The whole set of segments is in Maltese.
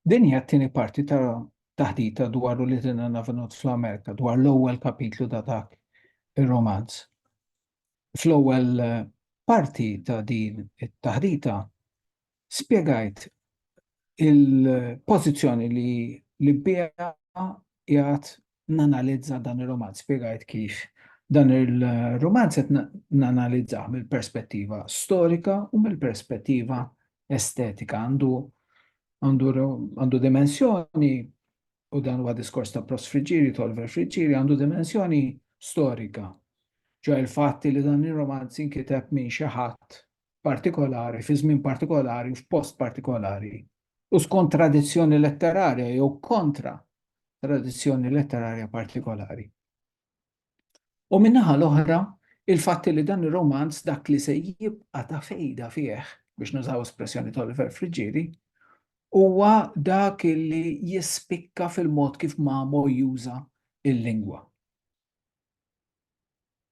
Din hija t-tieni parti ta' taħdita dwar u li dinna navenut fl-Amerika, dwar l-ewwel kapitlu ta' dak ir-romanz. Fl-ewwel eh, parti ta' din it-taħdita spjegajt il-pożizzjoni li li bija qiegħed nanalizza dan ir-rumanz, spjegajt kif dan ir-rumanz qed nanalizzah mill-perspettiva storika u mill-perspettiva estetika. Għandu għandu għandu dimensjoni u dan huwa diskors ta' Prost Friġiri, Tolver Friġiri, għandu dimensjoni storika. Ġo il-fatti li dan ir-romanz inkiteb minn xi ħadd partikolari, fi żmien partikolari, f'post partikolari u skont tradizzjoni letterarja jew kontra tradizzjoni letterarja partikolari. U min-naħa l-oħra, il-fatt li dan ir-romanz dak li se jibqa' ta' fejda fih, biex nużaw espressjoni ta' Oliver Friggieri, huwa dak li jispikka fil-mod kif Mamo juża il-lingwa.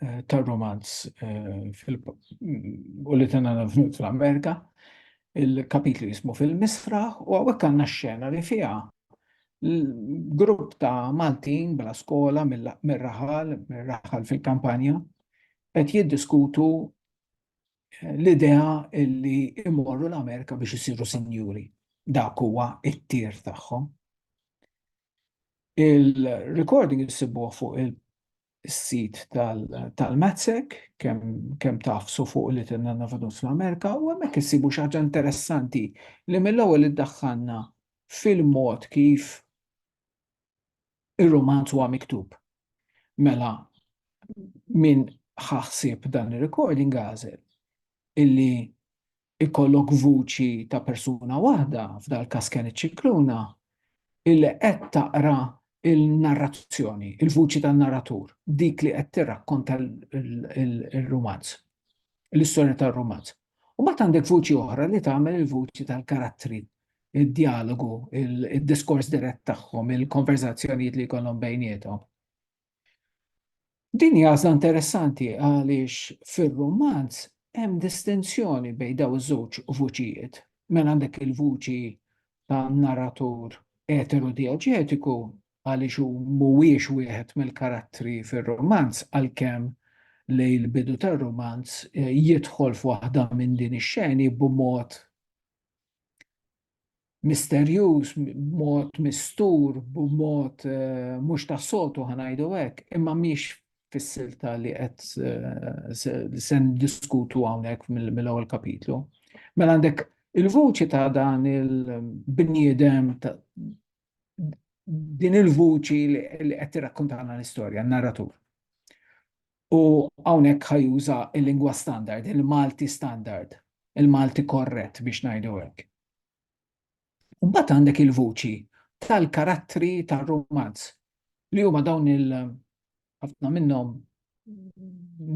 eh, tar-romanz eh, u li tena fl-Amerika, il-kapitlu jismu fil-misra u għawek għanna xena li fija grupp ta' Maltin bla skola mir-raħal, mir-raħal fil-kampanja, qed jiddiskutu eh, l-idea illi imorru l-Amerika biex isiru sinjuri. Dak huwa it-tir tagħhom. Il-recording jisibuh fuq il- is-sit tal-MATSEC, kemm taf su fuq li tinna navadun fl-Amerika, u hemmhekk issibu xi ħaġa interessanti li mill-ewwel iddaħħalna fil-mod kif ir-rumanz huwa miktub. Mela, min ħaħsib dan ir-recording għażel illi ikollok vuċi ta' persuna waħda, f'dal-każ kien iċ-Scicluna, illi qed taqra l-narrazzjoni, il-vuċi tan-narratur, dik li qed tirrakkonta l-rumanz, l-istorja tar-rumanz. U mbagħad għandek vuċi oħra li tagħmel il-vuċi tal-karattri, id-djalogu, id-diskors dirett tagħhom, il-konverżazzjonijiet li jkollhom bejniethom. Din hi għażla interessanti għaliex fir-rumanz hemm distinzjoni bejn dawn iż-żewġ vuċijiet. Mela għandek il-vuċi ta' narratur eterodieġetiku għaliex hu mhuwiex wieħed mill-karattri fir-rumanz għalkemm lejn l-bidu tar-rumanz jidħol f'waħda minn din ix-xeni b'mod misterjuż, b'mod mistur, b'mod mhux tas-soltu ħa ngħidu hekk, imma mhix fis-silta li qed se niddiskutu hawnhekk mill-ewwel kapitlu. Mela għandek il-vuċi ta' dan il-bniedem din il-vuċi li qed tirrakkuntana l-istorja, n-narratur. U hawnhekk ħa juża l-lingwa standard, il-Malti standard, il-Malti korrett biex ngħidu hekk. Mbagħad għandek il-vuċi tal-karattri tar-rumanz li huma dawn il ħafna minnhom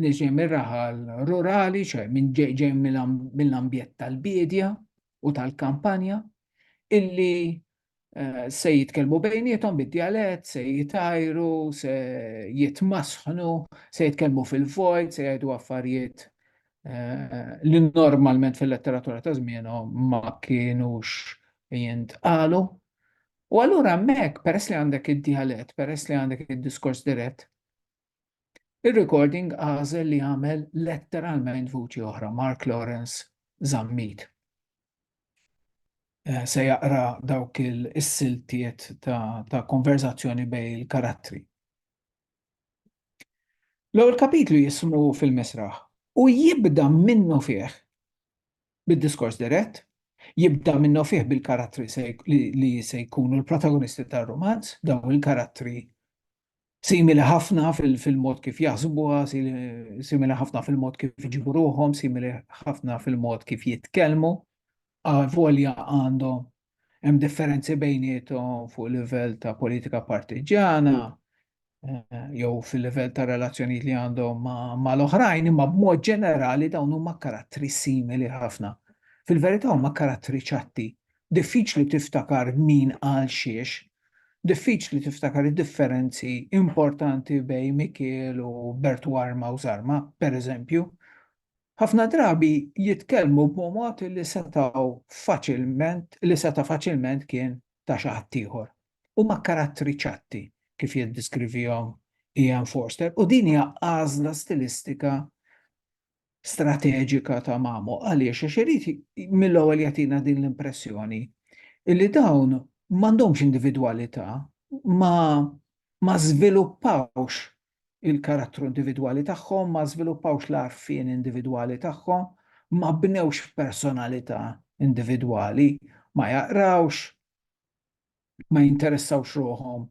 niġi mir-raħal rurali, ċe minn ġej mill-ambjent tal-biedja u tal-kampanja, illi se jitkellmu bejnietom bid-djalett, se jitajru, se jitmasħnu, se jitkellmu fil-vojt, se jgħidu affarijiet eh, li normalment fil-letteratura ta' żmienhom ma kienux jintqalu. U allura hemmhekk peress li għandek id-djalett, peress li għandek id-diskors dirett, Ir-recording għażel li jagħmel letteralment vuċi oħra, Mark Lawrence Zammit. Eh, se jaqra dawk il-siltiet ta', ta konverzazzjoni bej il-karattri. L-ewwel kapitlu jismu fil-misraħ u jibda minnu fih bid-diskors dirett, jibda minnu fih bil-karattri li se jkunu l-protagonisti tar-romanz, dawn il-karattri Simili ħafna fil-mod kif jaħsbuha, simili ħafna fil-mod kif iġibu ruħhom, simili ħafna fil-mod kif jitkellmu, avolja għandhom hemm differenzi bejniethom fuq livell ta' politika partiġjana eh, jew fil-livell ta' relazzjonijiet li għandhom mal-oħrajn, imma b'mod ġenerali dawn huma karattri simili ħafna. Fil-verità huma karattri ċatti Diffiċli tiftakar min qal xiex. Diffiċli tiftakar id-differenzi importanti bejn Mikiel u Bertwarma u Zarma, per eżempju. Ħafna drabi jitkellmu b'momod li setgħu faċilment li seta' faċilment kien ta' xi ħadd ieħor. Huma karattri ċatti, kif jiddiskrivihom Ian Forster, u din hija għażla stilistika strateġika ta' Mamo għaliex għax irid mill-ewwel jagħtina din l-impressjoni illi dawn m'għandhomx individwalità ma ma żviluppawx il-karattru individwali tagħhom, ma żviluppawx l-għarfien individwali tagħhom, ma bnewx personalità individwali, ma jaqrawx, ma jinteressawx ruħhom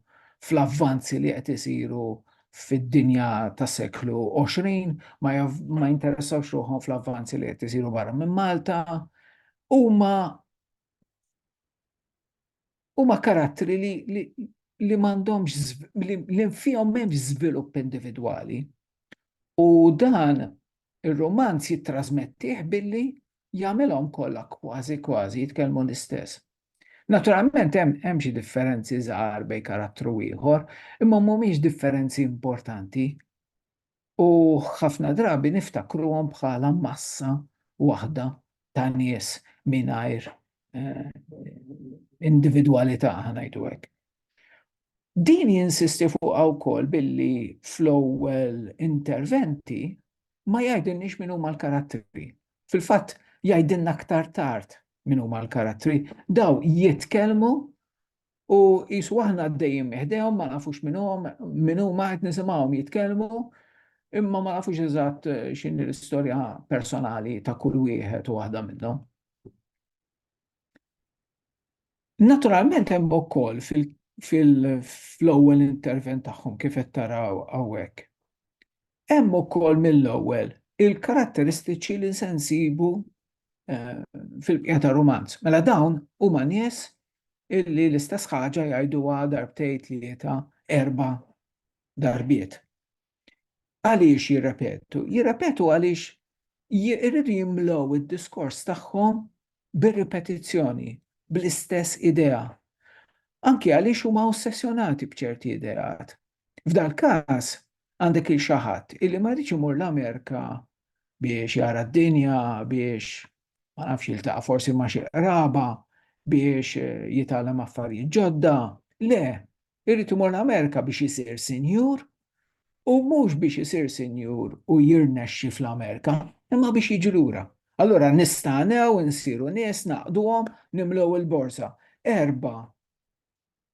fl-avvanzi li qed isiru fid-dinja tas-seklu 20, ma jinteressawx ruħhom fl-avvanzi li qed isiru barra minn Malta, huma huma karattri li li m'għandhomx li fihom m'hemmx żvilupp individwali. U dan ir-romanz jittrażmettih billi jagħmilhom kollha kważi kważi jitkellmu l-istess. Naturalment hemm xi differenzi żgħar bejn karattru u ieħor, imma mhumiex differenzi importanti u ħafna drabi niftakruhom bħala massa waħda ta' nies mingħajr individwalità, ħa ngħidu hekk. Din jinsisti fuqha wkoll billi fl-ewwel interventi ma jgħidilniex min huma l-karattri, Fil-fatt, jgħidilna aktar tard min huma l-karattri, daw jitkellmu u qisu aħna għaddejjin miħdejhom ma nafux min hum, min huma qed nisimgħuhom jitkellmu, imma ma nafux eżatt eh, x'inhi l-istorja personali ta' kull wieħed u waħda minnhom. Naturalment hemm ukoll fil-ewwel intervent tagħhom kif qed taraw hawnhekk. Hemm ukoll mill-ewwel il-karatteristiċi li se nsibu fil-bqija tar-rumanz. Mela dawn huma nies illi l-istess ħaġa jgħiduha darbtejn tlieta erba' darbiet. Għaliex jirrepetu? Jirrepetu għaliex jirridu jimlow id-diskors tagħhom bir-ripetizzjoni, bl-istess idea. Anki għaliex huma ossessjonati b'ċerti ideat. F'dal-każ, għandek il xi ħadd illi ma jridx imur l-Amerika biex jara d-dinja, biex ma nafx jiltaqa' forsi ma' xi qraba biex eh, jitgħallem affarijiet ġodda. Le, irrid imur l-Amerika biex isir sinjur u mhux biex isir sinjur u jirnexxi fl-Amerika, imma biex jiġi lura. Allura nistanew insiru nies naqduhom nimlew il-borsa. Erba'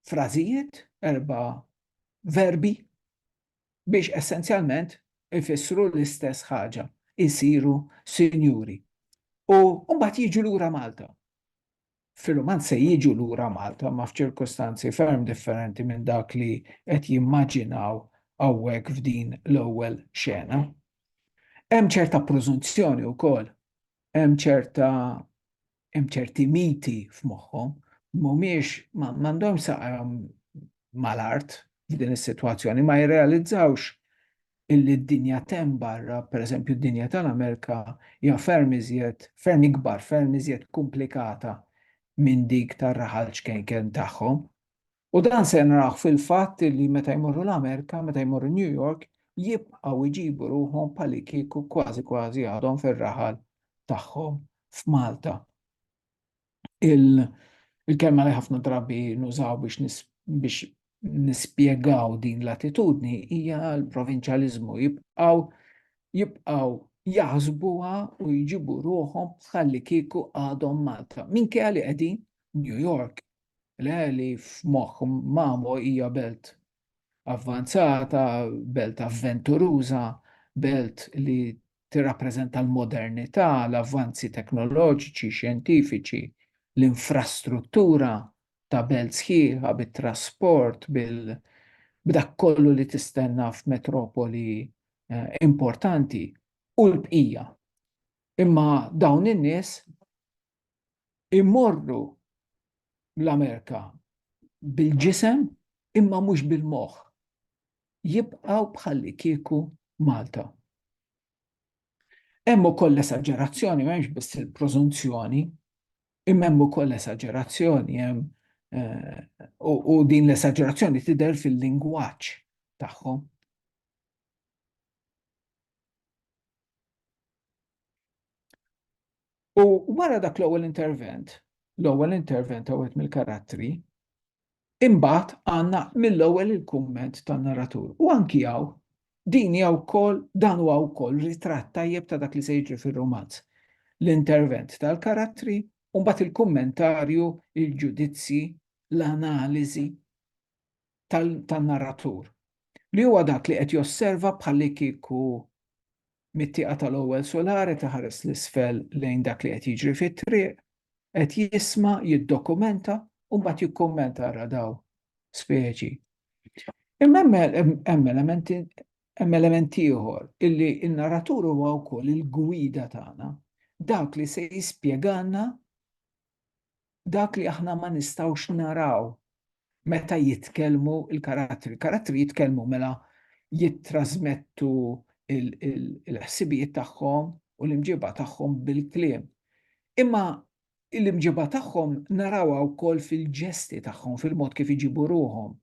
frażijiet, erba' verbi biex essenzjalment ifissru l-istess ħaġa, isiru sinjuri. U mbagħad jiġu lura Malta. Fil-Rumanz se jiġu lura Malta ma f'ċirkustanzi ferm differenti minn dak li qed jimmaġinaw hawnhekk f'din l-ewwel xena. Hemm ċerta preżunzjoni wkoll, hemm ċerta hemm ċerti miti f'moħħhom, mhumiex m'għandhomx saqajhom mal-art f'din is-sitwazzjoni, ma jirrealizzawx illi d-dinja t'hemm barra, pereżempju d-dinja tal-Amerika hija ferm iżjed, ferm ikbar, ferm iżjed komplikata minn dik tar-raħal ċkejken tagħhom. U dan se naraw fil-fatt li meta jmorru l-Amerika, meta jmorru New York, jibqgħu jġibu ruħhom bħalikieku kważi kważi għadhom fir-raħal tagħhom f'Malta. Il-kelma li ħafna drabi nużaw biex biex nispjegaw din l-attitudni hija l-provinċjaliżmu jibqgħu jibqgħu jaħsbuha u jġibu ruħhom bħalli kieku għadhom Malta. Minkejja li qegħdin New York, Le li f'moħħ Mamo hija belt avvanzata, belt avventuruża, belt li tirrappreżenta l-modernità, l-avvanzi teknoloġiċi, xjentifiċi, l-infrastruttura ta' belt sħiħa bit-trasport, b'dak kollu li tistenna f'metropoli eh, importanti u l-bqija. Imma dawn in-nies imorru l-Amerika bil-ġisem imma mhux bil-moħħ. Jibqgħu bħalli kieku Malta. Hemm ukoll esaġerazzjoni, m'hemmx biss il-prożunzjoni, imma hemm ukoll esaġerazzjoni hemm eh, u din l-esaġerazzjoni tidher fil-lingwaġġ tagħhom. U wara dak l-ewwel intervent, l-ewwel intervent ta' wieħed mill-karattri, imbagħad għandna mill-ewwel il-kumment tan-narratur. U anki hawn din hija wkoll dan huwa wkoll ritratt tajjeb ta' dak li se jiġri fir-romanz. L-intervent tal-karattri u mbagħad il-kummentarju, il-ġudizzji, l-analiżi. tan-narratur, li huwa dak li qed josserva bħallikieku mit-tieqa tal-ewwel sular qed iħares 'l isfel lejn dak li qed jiġri fit-triq, qed jisma', jiddokumenta u mbagħad jikkummenta ara daw speċi. Imma hemm elementi hemm element ieħor illi n-narratur huwa wkoll il-gwida tagħna, dak li se jispjegalna dak li aħna ma nistgħux naraw meta jitkellmu l-karattri. Il-karattri jitkellmu mela jittrażmettu l-ħsibijiet tagħhom u l-imġiba tagħhom bil-kliem. Imma l-imġiba tagħhom narawha wkoll fil-ġesti tagħhom, fil-mod kif iġibu ruhom.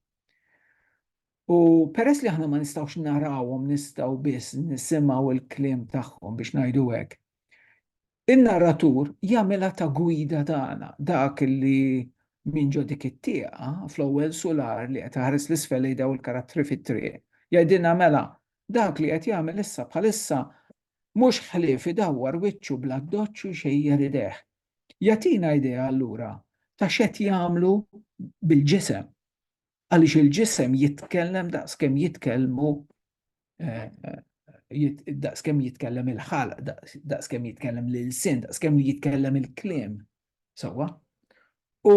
U peress li aħna ma nistgħux narawhom nistgħu biss nisimgħu l-kliem tagħhom biex ngħidu hekk. In-narratur jagħmilha ta' gwida tagħna, dak li minn ġo dik it-tieqa, fl-ewwel sular li qed iħares 'l isfel lejn dawn il-karattri fit-triq, jgħidilna mela, dak li qed jagħmel issa bħalissa mhux ħlief idawwar wiċċu bl-addoċċ u jxejjer idejh. Jagħtina idea allura ta' x'qed jagħmlu bil-ġisem. Għaliex il-ġisem jitkellem daqskemm jitkellmu daqskemm jitkellem il-ħalq, daqskemm jitkellem l-ilsien, daqskemm li jitkellem il-kliem. Sawa? U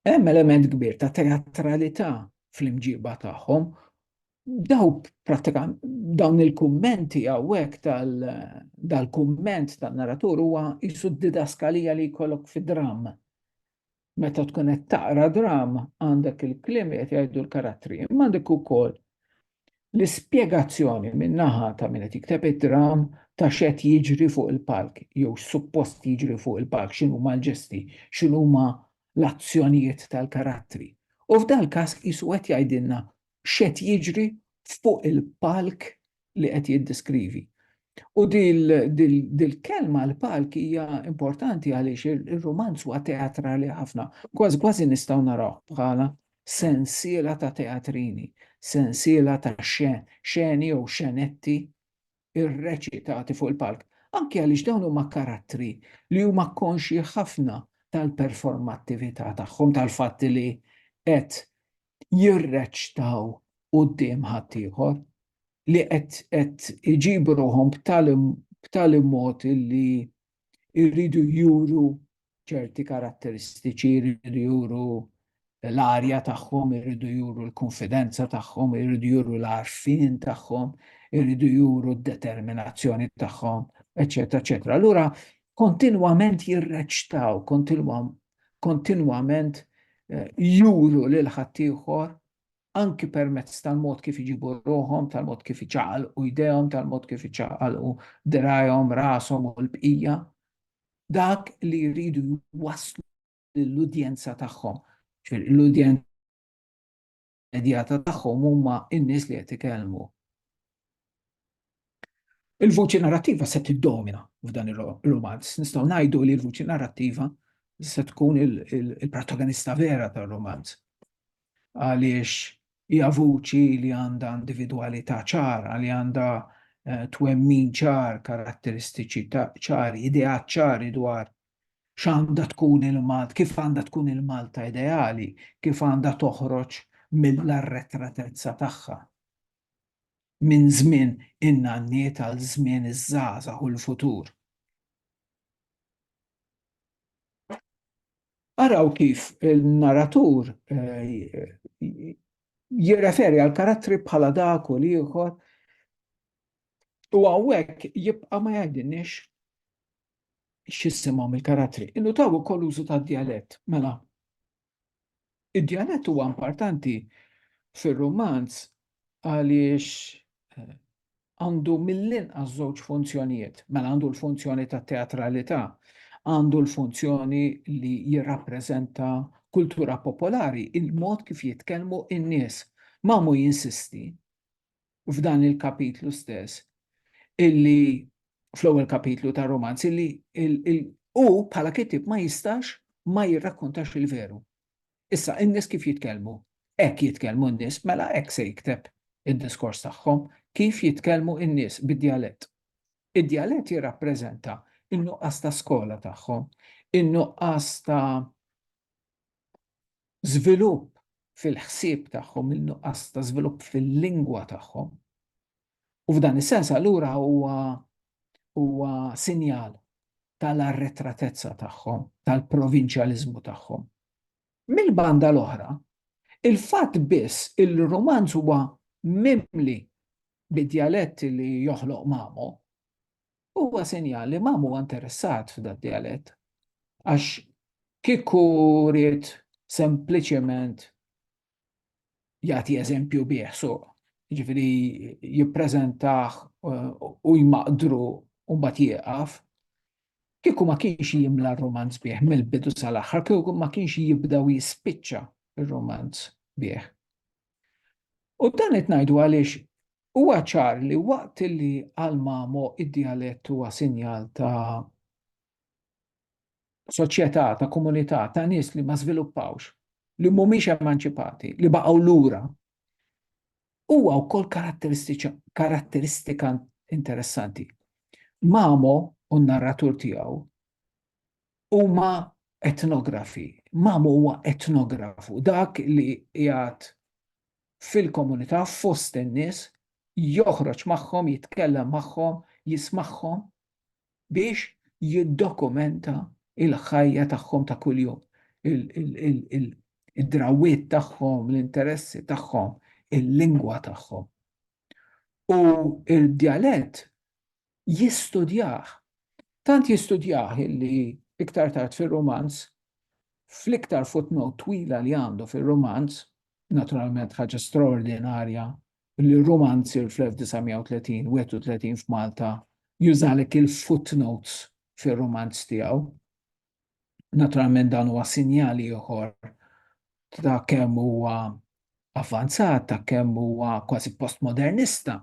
hemm element kbir ta' teatralità fl-imġiba tagħhom. Daw pratikament dawn il-kummenti hawnhekk tal-kumment tan-narratur huwa jisu didaskalija li jkollok fi dramm. Meta tkun qed taqra drama għandek il-kliem li qed jgħidu l-karattri, imma għandek ukoll l-ispjegazzjoni min-naħa ta' min qed jikteb id-dram ta' x'qed jiġri fuq il-palk jew x'suppost jiġri fuq il-palk, x'inhuma l-ġesti, x'inhuma l-azzjonijiet tal-karattri. U f'dal-każ qisu qed jgħidilna x'qed jiġri fuq il-palk li qed jiddeskrivi. U dil-kelma l-palk hija importanti għaliex ir-rumanz huwa teatrali ħafna, kważi kważi nistgħu naraw bħala sensiela ta' teatrini, sensiela ta' xeni jew xenetti irreċitati fuq il-palk. Anki għaliex dawn huma karattri li huma konxji ħafna tal-performattività tagħhom, tal-fatt li qed jirreċtaw quddiem ħaddieħor li qed iġibu ruħhom b'tali mod li jridu juru ċerti karatteristiċi, jridu juru l-arja tagħhom, jridu juru l-kunfidenza tagħhom, jridu juru l-għarfien tagħhom, jridu juru d-determinazzjoni tagħhom, eċċetera, eċċetera. Allura kontinwament jirreċtaw, kontinwament juru lil ħaddieħor anki permezz tal-mod kif iġibu ruħhom, tal-mod kif iċaqalqu jdejhom, tal-mod kif iċaqalqu dirgħajhom, rashom u l-bqija, dak li jridu jwasslu lill-udjenza tagħhom, l-udjenza immedjata tagħhom huma n-nies li qed ikellmu. Il-vuċi narrattiva se tiddomina f'dan ir-rumanz. Nistgħu ngħidu li l-vuċi narrattiva se tkun il-protagonista vera tar-rumanz. Għaliex hija vuċi li għandha individwalità ċara, li għandha eh, twemmin ċar, karatteristiċi ċari, ideat ċari dwar x'għandha tkun il-Malta, kif għandha tkun il-Malta ideali, kif għandha toħroġ mill-arretratezza tagħha minn żmien in-nanniet għal żmien iż-żgħażagħ u l-futur. Araw kif il-naratur jirreferi għal karattri bħala dak u l-ieħor u hawnhekk jibqa' ma jgħidilniex x'jissimgħu mill-karattri. Innutaw ukoll l-użu tad-djalett, mela. Id-djalett huwa importanti fir-rumanz għaliex eh, għandu mill-inqas żewġ funzjonijiet, mela għandu l-funzjoni ta' teatralità, għandu l-funzjoni li jirrappreżenta kultura popolari, il-mod kif jitkellmu in-nies. Mamu jinsisti f'dan il-kapitlu stess, illi fl-ewwel kapitlu tar-romanz, illi hu bħala kittieb ma jistax ma jirrakkontax il-veru. Issa, in-nies kif jitkellmu? Hekk jitkellmu n-nies, mela hekk se jikteb id-diskors tagħhom, kif jitkellmu n-nies bid-djalett. Id-djalett jirrappreżenta n-nuqqas ta' skola tagħhom, in-nuqqas ta' żvilupp fil-ħsieb tagħhom, il-nuqqas ta' żvilupp fil-lingwa tagħhom. U f'dan is-sens allura huwa huwa sinjal tal-arretratezza tagħhom, tal-provinċjaliżmu tagħhom. Mill-banda l-oħra, il-fatt biss il-rumanz huwa mimli bid-djaletti li joħloq Mamo, huwa sinjal li ma huwa interessat f'dad dialett. Għax kieku rrit sempliċement jagħti eżempju bih suq, ġifiri jippreżentah eh, u jmaqdru u mbagħad jieqaf, kieku ma kienx jimla r-romanz bih mill-bidu sal-aħħar, kieku ma kienx jibda u jispiċċa r-romanz bih. U dan qed ngħidu għaliex huwa ċar li waqt li għal Mamo id-djalett huwa sinjal ta' soċjetà, ta' komunità, ta' nies li ma żviluppawx, li mhumiex emanċipati, li baqgħu lura, huwa wkoll karatteristika interessanti. Mamo u n-narratur tiegħu huma etnografi. Mamu huwa etnografu, dak li jgħat fil-komunità fost in-nies joħroġ magħhom, jitkellem magħhom, jismagħhom biex jiddokumenta il-ħajja tagħhom ta' kuljum, id-drawwiet tagħhom, l-interessi tagħhom, il-lingwa tagħhom. U d-djalett jistudjah. Tant jistudjah illi iktar tard fir-rumanz, fl-iktar footnote twila li għandu fir-rumanz, naturalment ħaġa straordinarja li rumanzier fl-1930, 31 f'Malta, jużalek il-footnotes fir-rumanz tiegħu, Naturalment dan huwa sinjal ieħor ta' kemm huwa avvanzat, ta' kemm huwa kważi postmodernista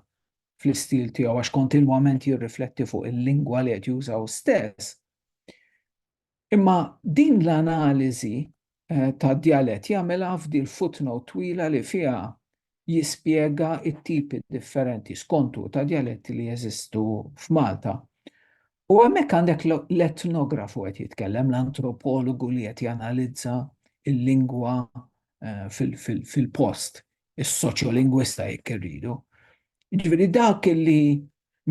fl-istil tiegħu għax kontinwament jirrifletti fuq il-lingwa li qed juża hu stess. Imma din l-analiżi ta' djalett jagħmilha f'di l-footnote twila li fiha jispjega t-tipi differenti, skont hu, ta' djaletti li jeżistu f'Malta. U hemmhekk għandek l-etnografu qed jitkellem, l-antropologu li qed janalizza l-lingwa fil-post, is-soċjolingwista jekk irridu. Jiġifieri dak li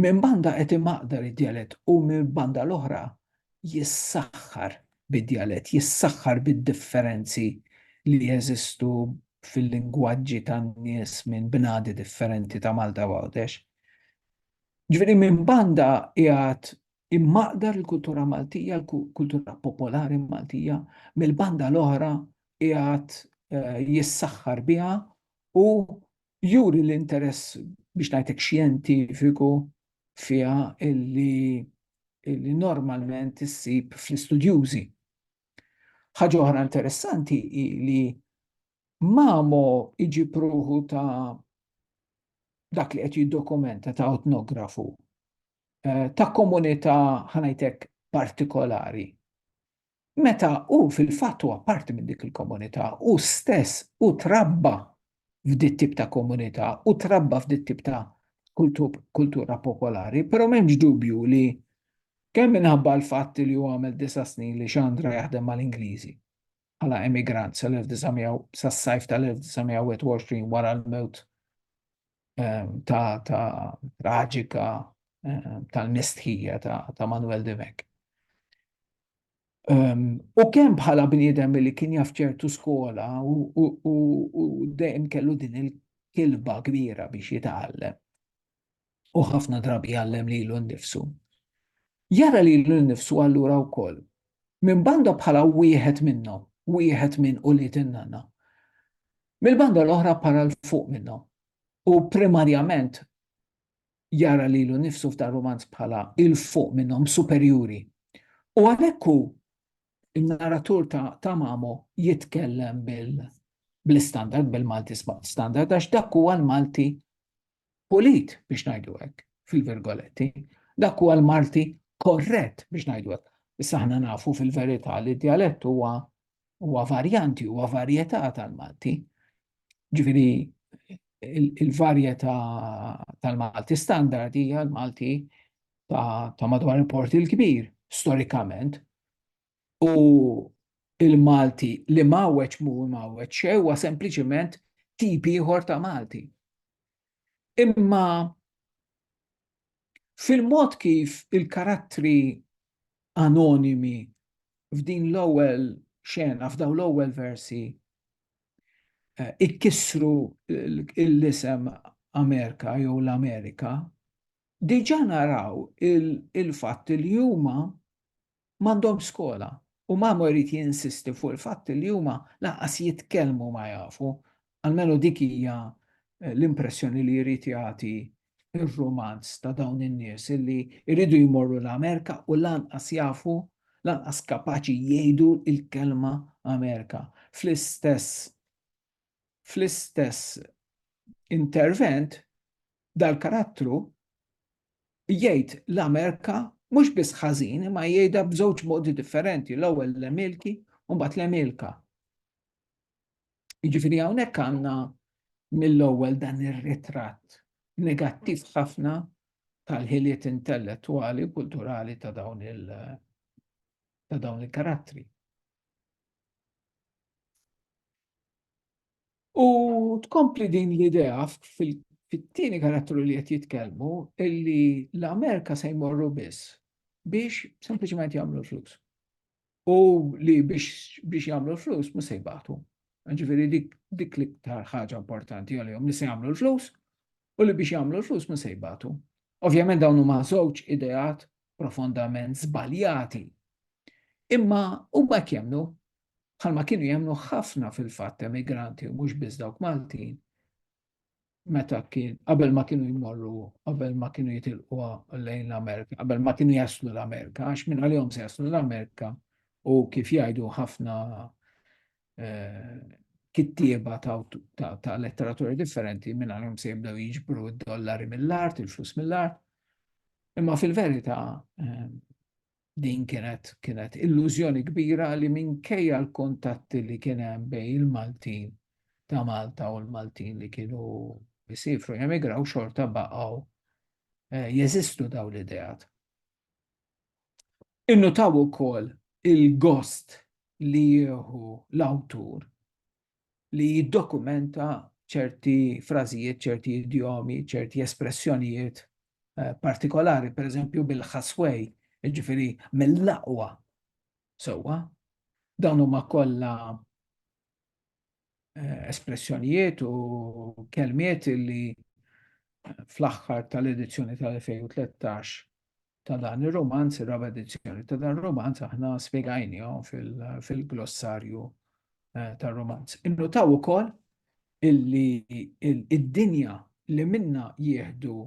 Minn banda qed imaqdar id-djalett u mill-banda l-oħra jissaħħar bid-djalett, jissaħħar bid-differenzi li jeżistu fil-lingwaġġi tan-nies minn bnadi differenti ta' Malta u Għawdex. Ġifieri minn banda qiegħed immaqdar il-kultura Maltija, il-kultura popolari Maltija, mill-banda l-oħra qiegħed jissaħħar biha u juri l-interess biex ngħidlek xjentifiku fiha illi li normalment issib fl-istudjużi. Ħaġa oħra interessanti hi li Mamo iġi pruħu ta' dak li qed jiddokumenta ta' etnografu eh, ta' komunità ħanajtek partikolari. meta hu fil-fatt huwa parti minn dik il-komunità, hu stess hu trabba f'dit tip ta' komunità, hu trabba f'dit tip ta' kultura popolari, però m'hemmx dubju li kemm minħabba l-fatt li hu għamel disa' snin li xandra jaħdem mal-Ingliżi bħala emigrant sal-1900 sas-sajf tal-1921 wara l-mewt ehm, ta' ta' traġika ehm, tal-mistħija ta' Manuel de Vec. Ehm, u kemm bħala bniedem li kien jaf ċertu skola u dejjem kellu din il-kilba kbira biex jitgħallem. U ħafna drabi jgħallem li l nifsu. Jara li l nifsu allura wkoll. Minn banda bħala wieħed minnhom, wieħed minn u li tinnana Mill-banda l-oħra para 'l fuq minnhom u primarjament jara lilu nnifsu f'dan rumanz bħala 'il fuq minnhom, superjuri. U għalhekk hu, in-narratur ta' Ta' Mamo, jitkellem bil-istandard, bil-Malti standard, għax dak huwa l-Malti pulit biex ngħidu hekk fil-virgoletti, dak huwa l-Malti korrett biex ngħidu hekk. Issa aħna nafu fil-verità li d-dialett huwa huwa varjanti, huwa varjetà tal-Malti. Ġifieri il-varjetà tal-Malti standard hija l-Malti ta', ta madwar il-Port il-Kbir, storikament. u l-Malti li mgħawweġ mhu mgħawweġ xejn huwa sempliċiment tip ieħor ta' Malti. Imma fil-mod kif il-karattri anonimi f'din l-ewwel xena, f'daw l-ewwel versi, eh, ikkissru l-isem Amerika jew l-Amerika, diġa naraw il-fatt li huma M'għandhomx skola u Mamo jrid jinsisti fuq il-fatt li huma lanqas jitkellmu ma jafu, almenu dik hija l-impressjoni li jrid jagħti r-rumanz ta' dawn in-nies li jridu jmorru l-Amerika u lanqas jafu, lanqas kapaċi jgħidu l-kelma Amerika. Fl-istess. fl-istess intervent dal-karattru jgħid l-Amerika mhux biss ħażin imma jgħidha b'żewġ modi differenti l-ewwel l-Emilki u mbagħad l-Emilka. Jiġifieri hawnhekk għandna mill-ewwel dan ir-ritratt negattiv ħafna tal-ħiliet intellettwali u kulturali ta' dawn il ta' dawn il-karattri. U tkompli din l-idea fit-tieni karattru li qed jitkellmu illi l-Amerika se jmorru biss biex sempliċement jagħmlu flus. U li biex jagħmlu flus mhux se jbagħtu. Ġifieri dik dik l-iktar ħaġa importanti għalihom li se jagħmlu l-flus u li biex jagħmlu l-flus mhux se jbagħtu. Ovvjament dawn huma żewġ ideat profondament żbaljati. Imma huma jemmnu bħalma kienu jemnu ħafna fil-fatt emigranti u mhux biss dawk Maltin, meta kien qabel ma kienu jmorru, qabel ma kienu jitilqu lejn l-Amerika, qabel ma kienu jaslu l-Amerika, għax minn għalihom se jaslu l-Amerika u kif jgħidu ħafna eh, kittieba ta' letteratura differenti minn għalhom se jibdew jiġbru d-dollari mill-art, il-flus mill-art. Imma fil-verità eh, din kienet kienet illużjoni kbira li minkejja l-kontatti li kien hemm bejn il-Maltin ta' Malta u l-Maltin li kienu jisifru jemigraw xorta baqgħu eh, jeżistu daw l-ideat. Innutaw ukoll il-gost li jieħu l-awtur li jiddokumenta ċerti frażijiet, ċerti idjomi, ċerti espressjonijiet eh, partikolari, per eżempju bil-ħaswej, ġifiri mill-laqwa. Sewa, dawn huma kollha eh, espressjonijiet u kelmiet li fl-aħħar tal-edizzjoni tal-2013 ta' dan ir-rumanz, ir-raba' edizzjoni ta' dan ir-rumanz aħna spjegajnihom fil-glossarju eh, tar-rumanz. Innutaw ukoll illi id-dinja li minna jieħdu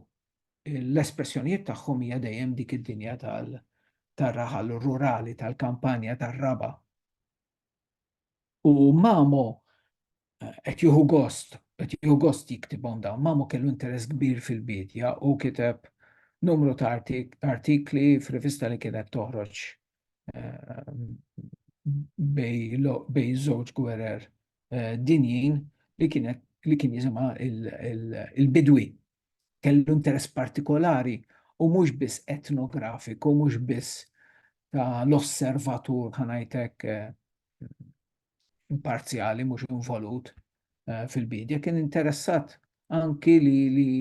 l-espressjonijiet tagħhom hija dejjem dik id-dinja tal-raħal rurali, tal-kampanja, tar-raba. U Mamo qed jieħu gost, qed jieħu gost jiktibhom dawn. Mamo kellu interess kbir fil-bidja u kiteb numru ta' artikli f'rivista li kienet toħroġ ehm, bej żewġ gwerer eh, dinjin li kienet li kien jisimha il-bidwi, kellu interess partikolari u mhux biss etnografiku, mhux biss ta' l-osservatur ħanajtek imparzjali mhux involut eh, fil-bidja, kien interessat anki li, li,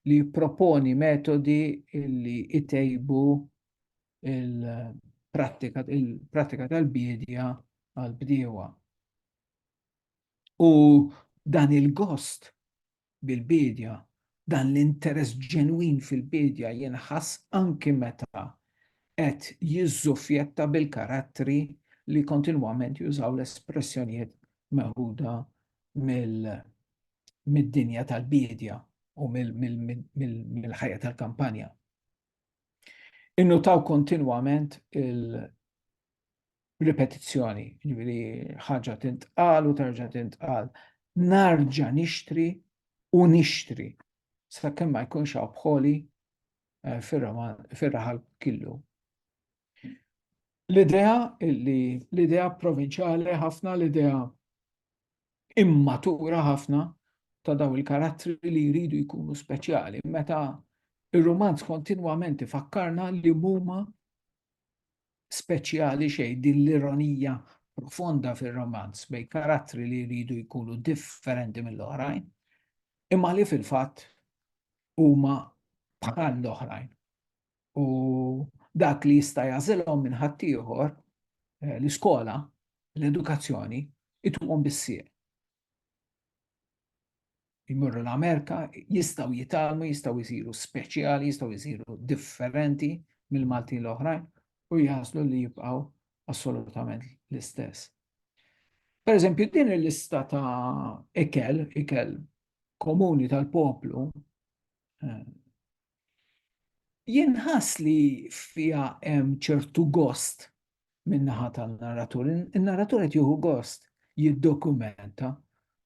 li proponi metodi li itejbu il-pratika il pratika tal bidja għal-bdiewa. U dan il-gost bil-biedja, dan l-interess ġenwin fil-biedja jinħass anki meta qed jiżżufjetta bil-karattri li kontinwament jużaw l-espressjonijiet meħuda mid-dinja tal-biedja u mill-ħajja tal-kampanja. Innutaw kontinwament ripetizzjoni, ġifieri ħaġa tintqal u terġa' tintqal. Narġa' nixtri u nixtri sakemm ma jkunx hawn bħoli eh, fir-raħal killu. L-idea li l-idea provinċjali ħafna l-idea immatura ħafna ta' daw il-karattri li jridu jkunu speċjali meta ir-romanz kontinwament ifakkarna li huma speċjali xejn din l-ironija profonda fir-romanz bejn karattri li jridu jkunu differenti mill-oħrajn, imma li fil-fatt huma bħal l-oħrajn. U dak li jista' jażilhom minn ħaddieħor eh, l-iskola, l-edukazzjoni, ituhom bissieq. jmorru l-Amerika, jistaw jitalmu, jistaw jisiru speċjali, jistaw jisiru differenti mill-Malti l-oħrajn u jaslu li jibqaw assolutament l-istess. Per eżempju, din il-lista ta' ikel, ikel komuni tal-poplu, eh, Jien nħass li fiha hemm ċertu gost min-naħa tan-narratur. In-narratur qed jieħu gost jiddokumenta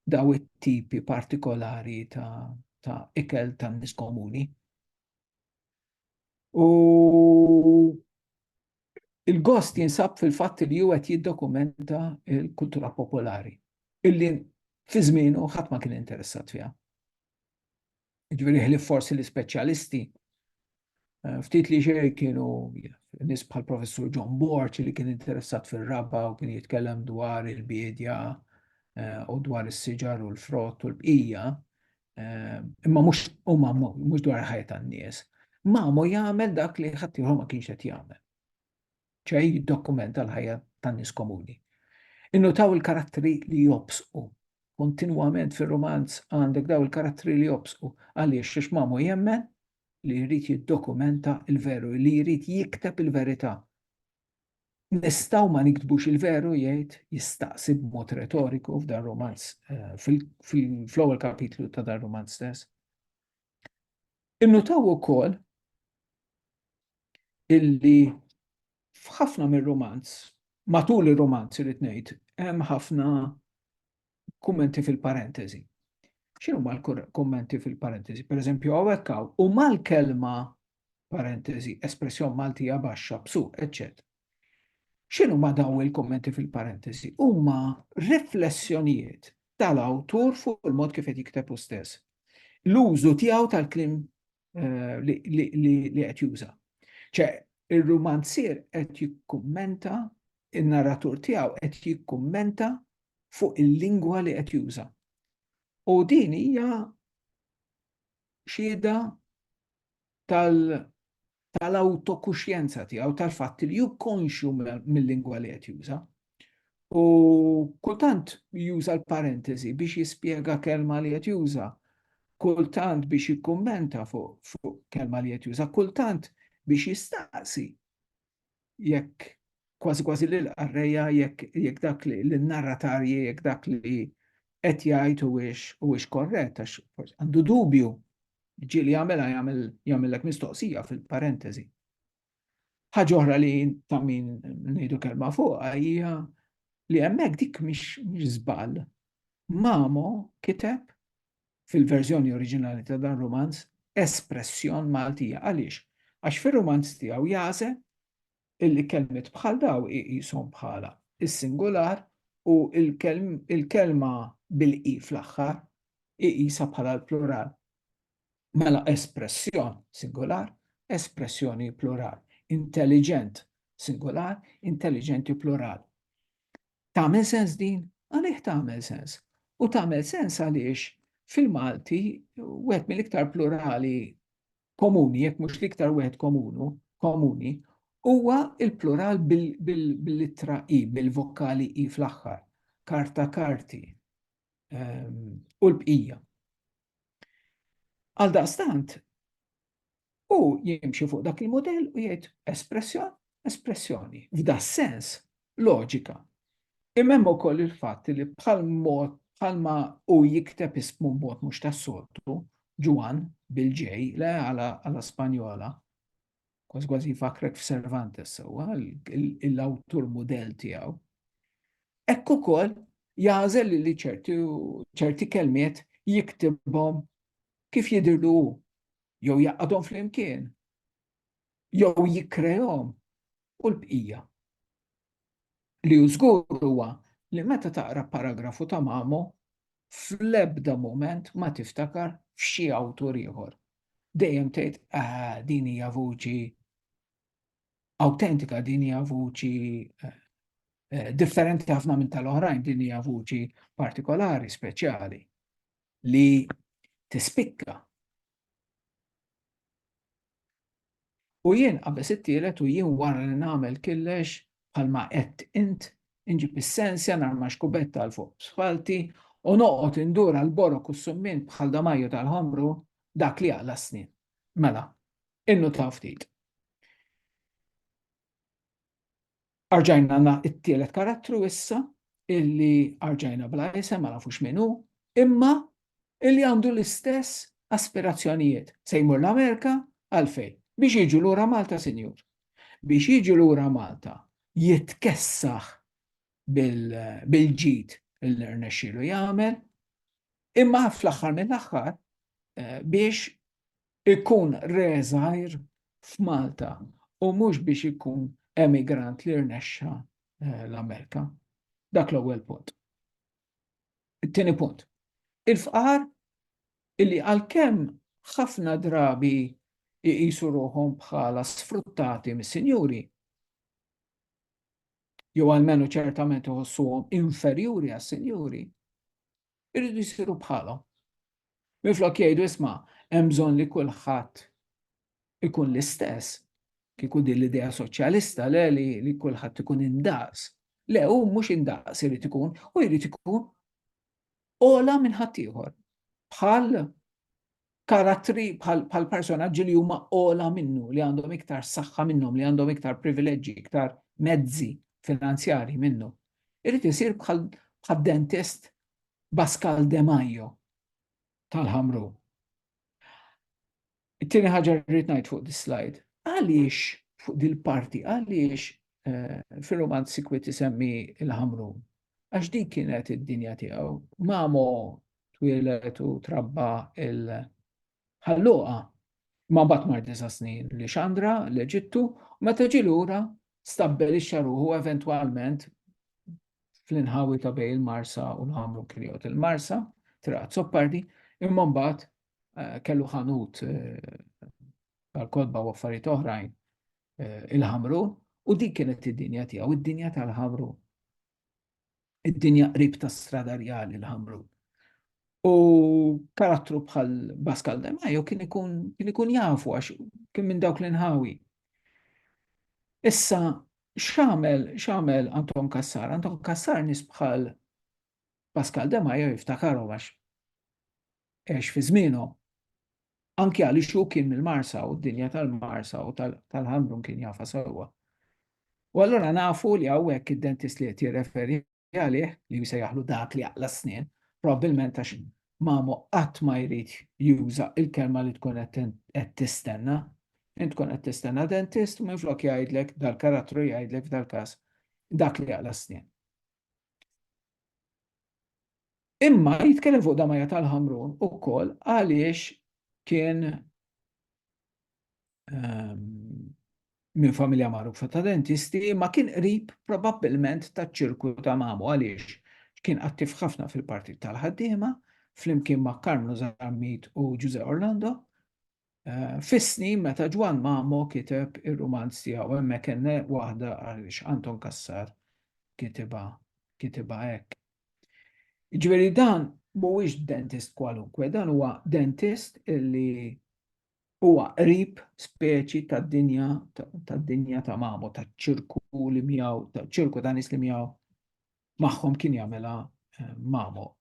daw it-tipi partikolari ta' ta' ikel ta' nies komuni. U il-gost jinsab fil-fatt li huwa qed jiddokumenta l-kultura popolari illi fi żmienu ħadd ma kien interessat fiha. Ġveri ħlif forsi l-ispeċjalisti, eh, ftit li xej kienu nis bħal professur John Borch li kien interessat fil-raba u kien jitkellem dwar il-biedja eh, u dwar is-siġar u l-frott u l-bqija, eh, imma mhux huma mhux dwar ħajja tan-nies. Mamu jagħmel dak li ħaddieħor ma kienx qed jagħmel. ċe jiddokumenta l-ħajja tan-nies komuni. Innutaw il-karattri li jobsqu. Kontinwament fir-rumanz għandek daw il-karattri li jobsqu. Għaliex xiex Mamu jemmen li jrid jiddokumenta il-veru, li jrid jikteb il-verità. Nistaw ma niktbux il-veru jgħid jistaqsi b'mod retoriku f'dan romanz eh, fl-ewwel kapitlu ta' dan romanz stess. Innutaw ukoll illi f'ħafna mir-rumanz, matul ir-rumanz irid ngħid, hemm ħafna kummenti fil-parentesi. X'inhu ma l-kummenti fil-parentesi? Per eżempju, hawnhekk hawn u mal-kelma parentesi, espressjon Maltija baxxa, bsu, eċċet. X'inhu ma daw il-kummenti fil-parentesi? Huma riflessjonijiet tal-awtur fuq il-mod kif qed jikteb u stess. L-użu tiegħu tal-klim li qed juża. ċe, ir-rumanzier qed jikkummenta, in-narratur tiegħu qed jikkummenta fuq il-lingwa li qed juża. U din hija xieda tal-autokuxjenza tiegħu tal-fatt li jukkonxju mill-lingwa li qed juża. U kultant juża l-parentesi biex jispjega kelma li qed juża, kultant biex jikkummenta fuq kelma li qed juża, kultant biex jistaqsi jekk kważi kważi lil qarrejja jekk dak li l-narratarji jekk dak li qed jgħid huwiex korrett għax għandu dubju ġieli jagħmilha jagħmellek mistoqsija fil-parentesi. Ħaġa oħra li ta' min ngħidu kelma fuqha hija li hemmhekk dik mhix żball. Mamo kiteb fil-verżjoni oriġinali ta' dan rumanz espressjon Maltija. Għaliex? Għax fir-rumanz tiegħu jagħżel illi kelmiet bħal dawn iqishom bħala s-singular u l-kelma bil-i fl-aħħar iqisha bħala l-plural. Mela espressjon, singular, espressjoni, plural, intelliġent, singular, intelliġenti, plural. Tagħmel sens din? Għalih tagħmel sens. U tagħmel sens għaliex fil-Malti wieħed mill-iktar plurali komuni, jekk mhux l-iktar wieħed komunu, komuni, huwa il-plural bil-littra i, bil-vokali i fl-aħħar, karta karti ehm, u l-bqija. Għaldaqstant, u jimxi fuq dak il-modell u jgħid espressjoni, espressjoni, f'da sens, loġika. Imem u koll il-fat li bħal mod bħalma u jikteb ismu mod mux tas-soltu, Ġuan bil-ġej, le għala Spanjola, kważi kważi jfakrek f'Servantes sewwa, l-awtur mudell tiegħu. Hekk ukoll jażel li ċerti kelmiet jiktibhom kif jidirlu jew jaqadhom flimkien jew jikrejhom u l-bqija. Li hu żgur huwa li meta taqra paragrafu ta' Mamo, fl-ebda mument ma tiftakar f'xi awtur ieħor. Dejjem tgħid, ah, din hija vuċi awtentika, din hija vuċi eh, eh, differenti ħafna minn tal-oħrajn, din hija vuċi partikolari, speċjali, li tispikka U jien qabeż it-tielet u jien wara li nagħmel killex bħalma qed int, inġib is-sensja, narmax kubetta għal fuq b'spalti u noqgħod indur għal borok u s-summien bħal damajju tal-ħomru, dak li jaqla' s-snien. Mela, innutaw ftit. Arġajna għandna t-tielet karattru issa, illi arġajna bla isem, ma nafux min hu, imma illi għandu l-istess aspirazzjonijiet. Se jmur l-Amerika għalfejn? Biex jiġu lura Malta, sinjur. Biex jiġu lura Malta jitkessaħ bil-ġid li rnexxielu jagħmel, imma fl-aħħar mill-aħħar eh, biex ikun re żgħir f'Malta u mhux biex ikun emigrant li rnexxa eh, l-Amerika. Dak l-ewwel punt. It-tieni punt. Il-fqar illi għalkemm ħafna drabi jqisu ruħhom bħala sfruttati mis-sinjuri, jew għalmenu ċertament iħossuhom inferjuri għas-sinjuri, irridu jsiru bħalhom. Minflok jgħidu isma' hemm bżonn li kulħadd ikun l-istess, kieku din l-idea soċjalista le li, li kulħadd ikun indaqs. Le, u mhux indaqs irid ikun, u jrid ikun ola minn ħaddieħor. Bħal karattri bħal personaġġi li huma ola minnu, li għandhom iktar saħħa minnhom, li għandhom iktar privileġġi, iktar mezzi finanzjari minnu. Irid isir bħal dentist Bascal De Majo tal-ħamru. It-tieni ħaġa rrid ngħid fuq dis slide. Għaliex fuq dil-parti, għaliex eh, fil-romanzi kwit isemmi il-ħamru? Għax dik kienet id-dinja tiegħu. Mamo twilet u trabba il-ħalluqa. Ma bat mar disa snin li xandra l-Eġittu, u meta ġi lura stabbel ix-xaruħu eventwalment fl-inħawi ta' bej il-Marsa u l-ħamru kriot. Il-Marsa, traqat soppardi, imma mbagħad eh, kellu ħanut eh, tal-kodba u affarijiet oħrajn eh, il-Ħamrun u dik kienet id-dinja tiegħu, id-dinja tal-Ħamrun. Id-dinja qrib ta' strada rjali l-Ħamrun. U karattru bħal Baskal Demajo kien ikun kien ikun jafu għax kien minn dawk l-inħawi. Issa x'għamel x'għamel Anton Kassar? Anton Kassar nis bħal Pascal Demajo jiftakarhom għax għex fi żmienhom. Anki għaliex hu kien mill-Marsa u d-dinja tal-Marsa u tal-Ħamrun kien jafa sewwa. U allura nafu li hawnhekk id-dentist li qed jirreferi għalih li jsejjaħlu dak li jaqla s-snien, probabbilment għax mamu qatt ma jrid juża il-kelma li tkun qed tistenna. Int tkun qed tistenna dentist u minflok jgħidlek dal-karattru jgħidlek f'dal-każ dak li jaqla s-snien. Imma jitkellem fuq Damaja tal-Ħamrun ukoll għaliex kien minn familja magħrufa ta' dentisti ma kien qrib probabbilment taċ-ċirku ta' mamu għaliex kien attiv ħafna fil-Partit tal-Ħaddiema flimkien ma' Karmnu Zammit u Ġużè Orlando Fis-snin meta Ġwann Mamo kiteb ir-rumanz tiegħu hemmhekk hemm waħda għaliex Anton Cassar kitibha kitibha hekk. Jiġifieri dan mhuwiex dentist kwalunkwe, dan huwa dentist li huwa qrib speċi tad-dinja tad-dinja ta' Mamo, taċ-ċirku li miegħu, taċ-ċirku ta' nies li miegħu magħhom kien jagħmilha Mamo.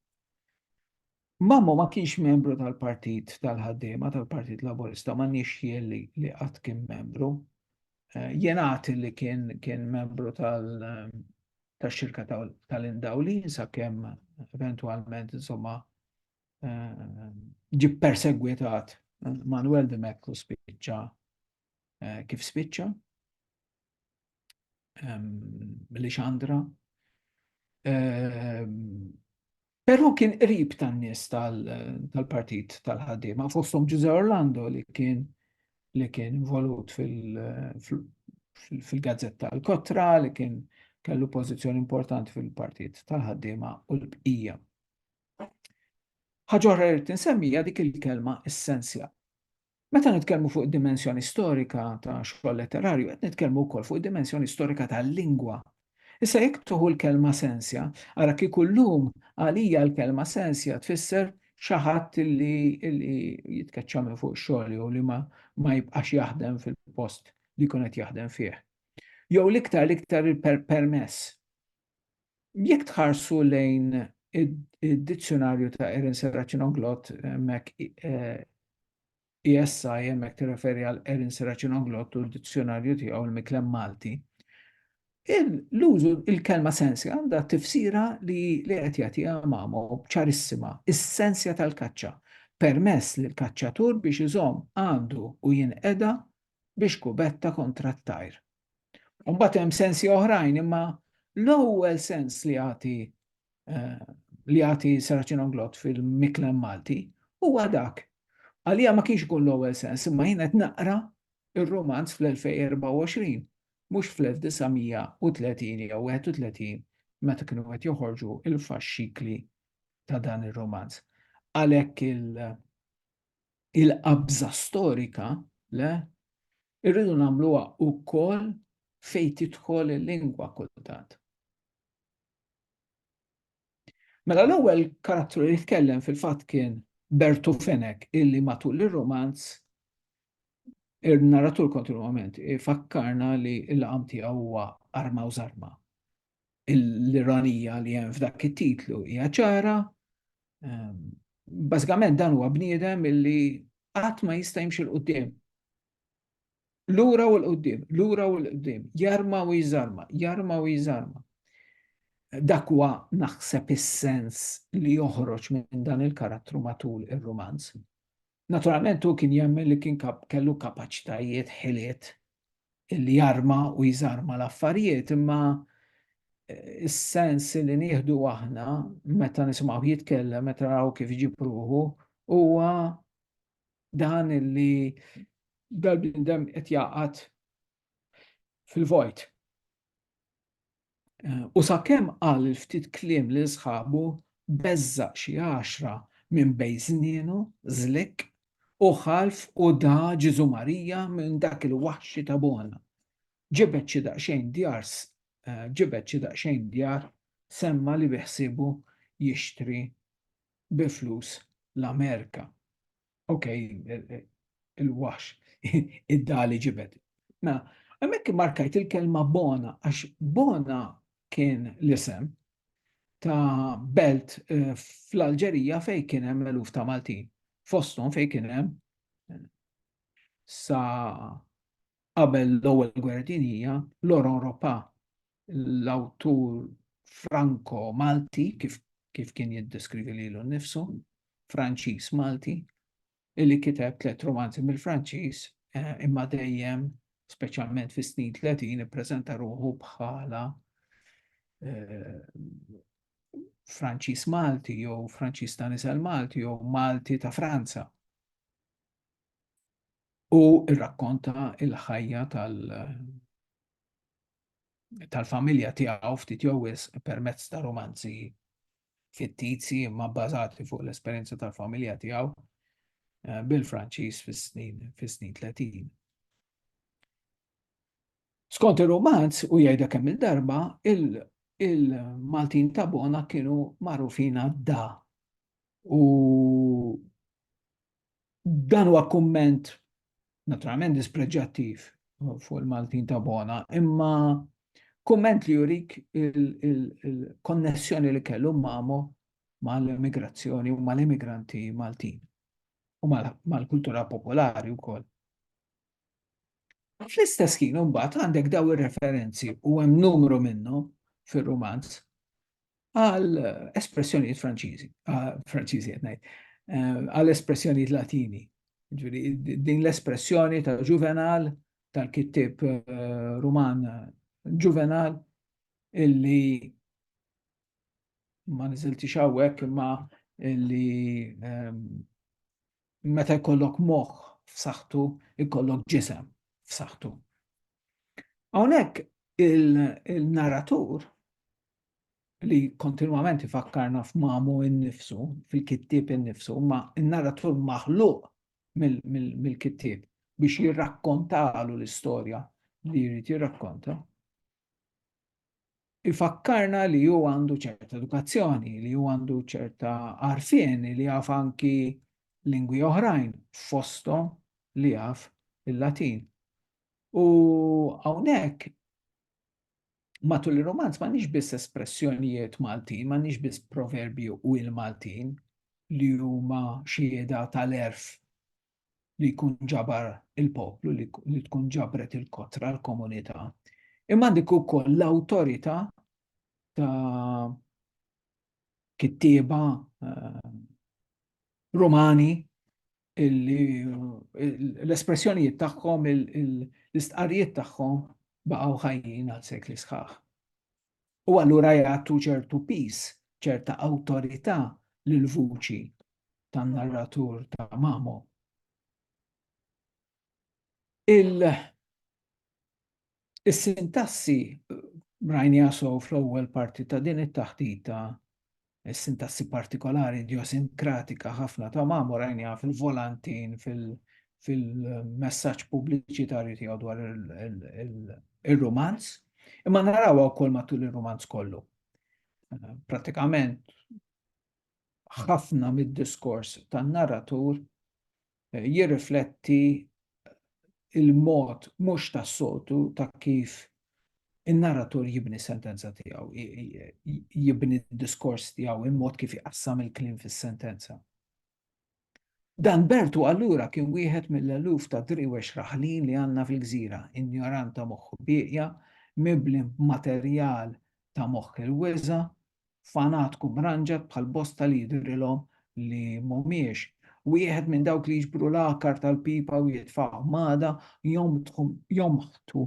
Mamo ma kienx membru tal-Partit tal-Ħaddiema tal-Partit Laburista, ma nix jien li qatt kien membru. Eh, jenat li kien kien membru tal-xirka tal-indawlin sa' kem eventualment insomma eh, ġi persegwitat Manuel de Meklu spiċċa kif spiċċa. Lixandra. Però kien qrib tan-nies tal-partit tal-ħaddiema, fosthom Ġuże Orlando li kien li kien involut fil-gazzetta l-kotra li kien kellu pożizzjoni importanti fil-partit tal-ħaddiema u l-bqija. Ħaġa oħra li tinsemmija dik il-kelma essenzja. Meta nitkellmu fuq id-dimensjoni storika ta' xogħol letterarju, qed nitkellmu wkoll fuq id-dimensjoni storika tal-lingwa. Issa jekk tuħu l-kelma sensja, ara kieku llum għalija l-kelma sensja tfisser xi ħadd li jitkeċċa minn fuq ix-xogħol jew li ma jibqax jaħdem fil-post li jkun qed jaħdem fih. Jew l-iktar l-iktar permess Jekk tħarsu lejn id-dizzjonarju ta' Erin Serracino Glott, hemmhekk ESI hemmhekk tirreferi għal Erin Serracino Glott u d-dizzjonarju tiegħu l-miklem Malti. L-użu il-kelma sensja għandha tifsira li li qed jagħtiha mamo ċarissima, is-sensja tal-kaċċa, permess lil kaċċatur biex iżomm għandu u jinqeda biex kubetta kontra t-tajr. Mbagħad hemm sensi oħrajn, imma l-ewwel sens li jagħti eh, li jagħti Saracino Glott fil-Miklem Malti huwa dak. Għalija ma kienx ikun l-ewwel sens, imma jien qed naqra ir-romanz fl-2024, mhux fl-1930 jew 31 meta kienu qed joħorġu il-faxxikli ta' dan ir-romanz. Għalhekk il-qabża storika le Irridu nagħmluha wkoll fejn tidħol il-lingwa kultant. Mela l-ewwel karattru li jitkellem fil-fatt kien Bertu Fenek illi matul ir-romanz ir-narratur kontinwament ifakkarna li l-laqam tiegħu huwa arma u żarma. l-ironija li hemm f'dak it-titlu hija ċara. Ehm, bażikament dan huwa bniedem illi qatt ma jista' jimxi l-qudiem. Lura u l-qudiem, lura u l-qudiem, jarma u jżarma, jarma u jżarma. Dak huwa naħseb is-sens li joħroġ minn dan il-karattru matul ir-rumanz. Naturalment hu kien jemmen li kien kellu kapaċitajiet, ħiliet li jarma u jżarma l-affarijiet, imma is-sens li nieħdu aħna meta nisimgħu jitkellem, meta naraw kif iġib ruħu, huwa dan li dal-bniedem qed jaqgħad fil-vojt. U sakemm qal il-ftit kliem lil sħabu, beżżaq xi għaxra minn bejn snienu, żlikk, u ħalf u da Ġesù Marija minn dak il-waħxi ta' bona. Ġibed xi daqsxejn djar ġibed xi daqsxejn djar semma li biħsiebu jixtri bi flus l-Amerika. ok, il-wax, id-dali ġibet. Ma, għamek markajt il-kelma bona, għax bona kien l-isem ta' belt eh, fl-Alġerija fej kien hemm eluf ta' Maltin. Foston fej kien hemm eh, sa' qabel l-ewwel gwerra dinija l-Europa l-awtur Franco Malti kif kif kien jiddeskrivi lilu nnifsu, Franċiż Malti, illi kiteb tliet romanzi mill-Franċiż eh, imma dejjem speċjalment fis-snin 30 ippreżenta ruħu bħala eh, Franċiż Malti jew Franċiż ta' nisel Malti jew Malti ta' Franza. U rrakkonta il-ħajja tal- tal-familja tiegħu ftit jew wisq permezz ta' romanzi fittizji imma bbażati fuq l-esperjenza tal-familja tiegħu eh, bil-Franċiż fis-snin fis-snin 30. Skont ir-romanz u jgħidha kemm il-darba il-Maltin ta' Bona kienu magħrufina da u Dan huwa kumment naturalment dispreġġattiv fuq il-Maltin ta' bona, imma kumment li jurik il-konnessjoni li kellu mamo mal-immigrazzjoni u mal-immigranti Maltin u mal-kultura popolari wkoll. Fl-istess ħin imbagħad għandek daw ir-referenzi u hemm numru minnhom fir-rumanz għal espressjonijiet Franċiżi, Franċiżi qed ngħid, eh, għal espressjonijiet Latini. Din l-espressjoni ta' Juvenal tal-kittib eh, Ruman Juvenal illi ma niżilti xawwek imma illi ehm, Meta jkollok moħħ f'saħħtu, jkollok ġisem f'saħħtu. Hawnhekk il-narratur li kontinwament ifakkarna f'mamu innifsu, fil-kittib innifsu, ma il-narratur maħluq mill-kittib biex jirrakkontalu l-istorja li jrid jirrakkonta. Ifakkarna li hu għandu ċerta edukazzjoni, li hu għandu ċerta għarfien, li jaf anki lingwi oħrajn fosthom li jaf il-Latin. U hawnhekk matul ir-romanz m'għandniex biss espressjonijiet Maltin, m'għandniex biss proverbju u il-Maltin li huma xieda tal-erf li jkun ġabar il-poplu, li tkun ġabret il-kotra, l-komunità, imma għandek ukoll l-awtorità ta' kittieba eh, Rumani l-espressjonijiet tagħhom, l-istqarrijiet tagħhom baqgħu ħajjin għal sekli sħaħ. u allura jagħtu ċertu piż, ċerta awtorità lill-vuċi tan-narratur ta' Mamo. Is-sintassi rajniha sew fl-ewwel parti ta' din it-taħdita is-sintassi partikolari idjosinkratika ħafna ta' Mamu rajniha fil-volantin fil-messaġġ pubbliċitarju tiegħu dwar ir-rumanz, imma narawha wkoll matul ir-rumanz kollu. Pratikament ħafna mid-diskors tan-narratur jirrifletti l-mod mhux tas-soltu ta' kif in-narratur jibni sentenza tiegħu, jibni d-diskors tiegħu, il-mod kif iqassam il-kliem fis-sentenza. Dan Bertu allura kien wieħed mill-eluf ta' driwex raħlin li għandna fil-gżira, injorant ta' moħħu bieqja, mibli b'materjal ta' moħħ il-wiża, fanatku mranġat bħal bosta li jidhrilhom li m'humiex, wieħed minn dawk li jiġbru l-għakar tal-pipa u jitfagħhom għada, jonbħtu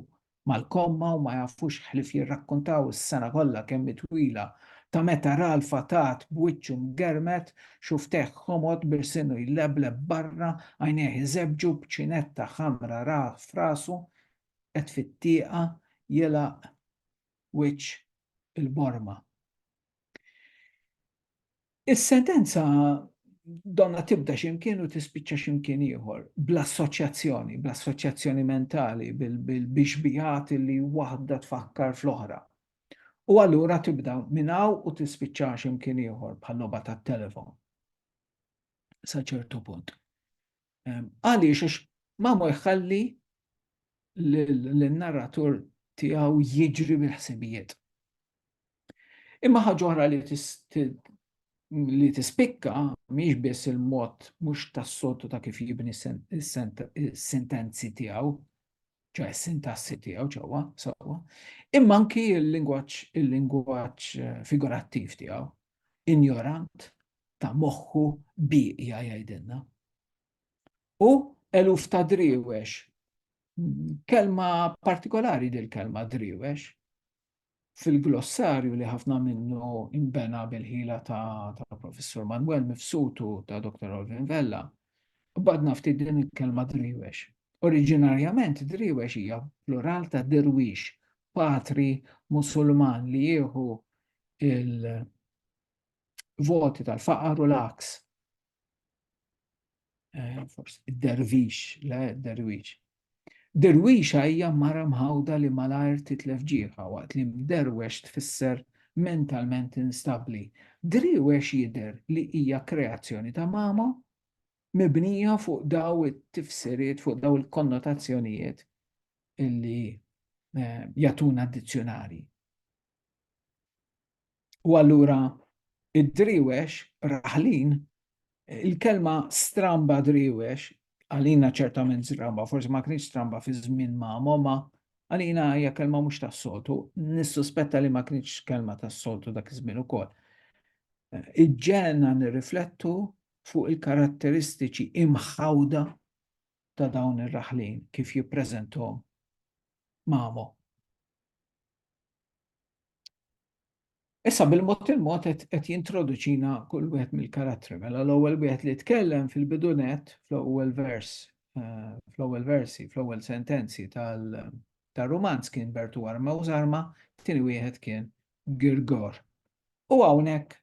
mal-komma u ma jafux ħlief jirrakkuntaw is-sena kollha kemm hi twila ta' meta ra l-fatat b'wiċċu mgermed, xufftejh ħomod b'ilsinu jlebleb barra, għajnejh iżebbġu b'ċinetta ħamra rah f'rasu, qed fit-tieqa jilgħaq wiċċ il-borma. Is-sentenza donna tibda ximkien u tispiċċa ximkien ieħor, bl-assoċjazzjoni, bl-assoċjazzjoni mentali, bil-bixbijat li waħda tfakkar fl-oħra. U allura tibda minnaw u tispiċċa ximkien ieħor bħal-loba tat-telefon. Sa ċertu punt. Għaliex għax Mamo jħalli l-narratur tiegħu jiġri bil-ħsibijiet. Imma ħaġa oħra li li tispikka mhix biss il-mod mhux tas-sotu ta' kif jibni sentenzi tiegħu, ċe sintassi tiegħu ġewwa sewwa, imma anki l-lingwaġġ il-lingwaġġ eh, figurattiv tiegħu. injorant ta' moħħu bieqja jgħidilna. U eluf ta' driwex, kelma partikolari dil kelma driwex, fil-glossarju li ħafna minnu imbena bil-ħila ta', ta professur Manuel Mifsutu ta' Dr. Olvin Vella, badna ftit din il-kelma driwex. Oriġinarjament driwex hija plural ta' dirwix, patri musulman li jieħu il-voti tal-faqar u l-aks. Eh, forsi, id-dervix, le, derwix. Derwix hija mara mħawda li malajr titlef ġieħa waqt li mderwex tfisser mentalment instabli. Driwex jider li hija kreazzjoni ta' mama mibnija fuq daw it-tifsiriet, fuq daw il-konnotazzjonijiet illi eh, jatuna dizzjonari. U allura id-driwex raħlin, il-kelma stramba driwex, għalina ċertament stramba, forsi ma kienx stramba fi żmien ma' mama, għalina hija kelma mhux tas-soltu, nissuspetta li ma kienx kelma tas-soltu dak iż-żmien ukoll. Iġġena nirriflettu fuq il-karatteristiċi imħawda ta' dawn ir-raħlin kif jippreżentom mamo. Issa bil-mod il-mod qed jintroduċina kull wieħed mill-karattri. Mela l-ewwel wieħed li tkellem fil-bidunet fl-ewwel vers, eh, fl-ewwel versi, fl-ewwel sentenzi tal-romanz kien Bertu Arma u Zarma, tieni wieħed kien Girgor. U hawnhekk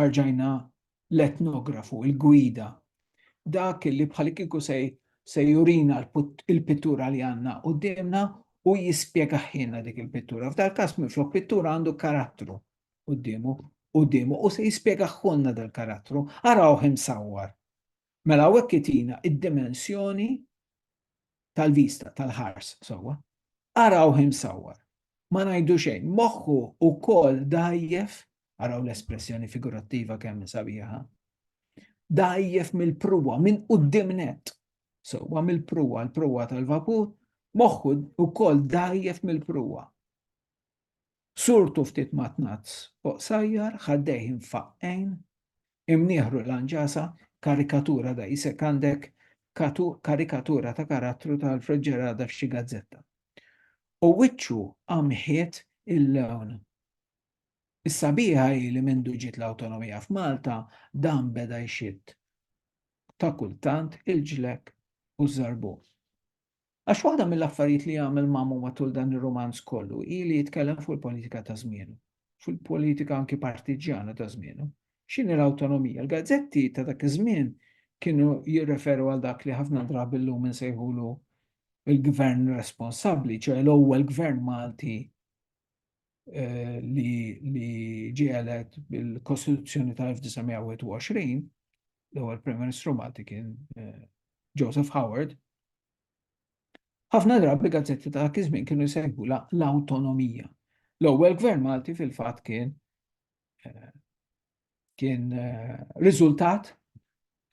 arġajna l-etnografu, il-gwida, dak li bħalikieku se jurina l-pittura li għandna quddiemna u jispjegahielna dik il-pittura. F'dal-każ minflok pittura għandu karattru quddiemu, quddiemu u se jispjegahielna dal-karattru. Arawh imsawwar. Mela hawnhekk itina d-dimensjoni tal-vista, tal-ħars sewwa. Arawh imsawwar. Ma ngħidu xejn, moħħu wkoll dgħajjef, araw l-espressjoni figurattiva kemm hi sabiħa, dgħajjef mill-pruwa, minn quddiem nett, sewwa mill-pruwa, l-pruwa tal-vapur, moħħu wkoll dgħajjef mill-pruwa. Surtu ftit matnazz u qsajjar, ħaddejh imfaqqgħin, imnieħru lanġasa, karikatura da jisek għandek karikatura ta' karattru ta' Alfred Ġerada f'xi gazzetta. U wiċċu għamħiet il-lewn. Is-sabiħa hi li mindu ġiet l-awtonomija f'Malta dan beda jxitt ta' kultant il-ġlek u żarbun. Għax waħda mill-affarijiet li għamel Mamu matul dan ir-rumanz kollu hi li jitkellem fuq il-politika ta' żmienu, fuq il-politika anki partiġġjana ta' żmienu. X'inhi l-awtonomija? Il-gazzetti ta' dak iż-żmien kienu jirreferu għal dak li ħafna drabi llum insejħulu l-gvern responsabbli, ċoe l-ewwel gvern Malti eh, li, li ġielet bil-Kostituzzjoni tal-1921, l-ewwel Prim Ministru Malti kien eh, Joseph Howard. Ħafna drabi gazzetti ta' dak iż-żmien kienu jsegwu l-awtonomija. L-ewwel gvern Malti fil-fatt kien eh, kien eh, riżultat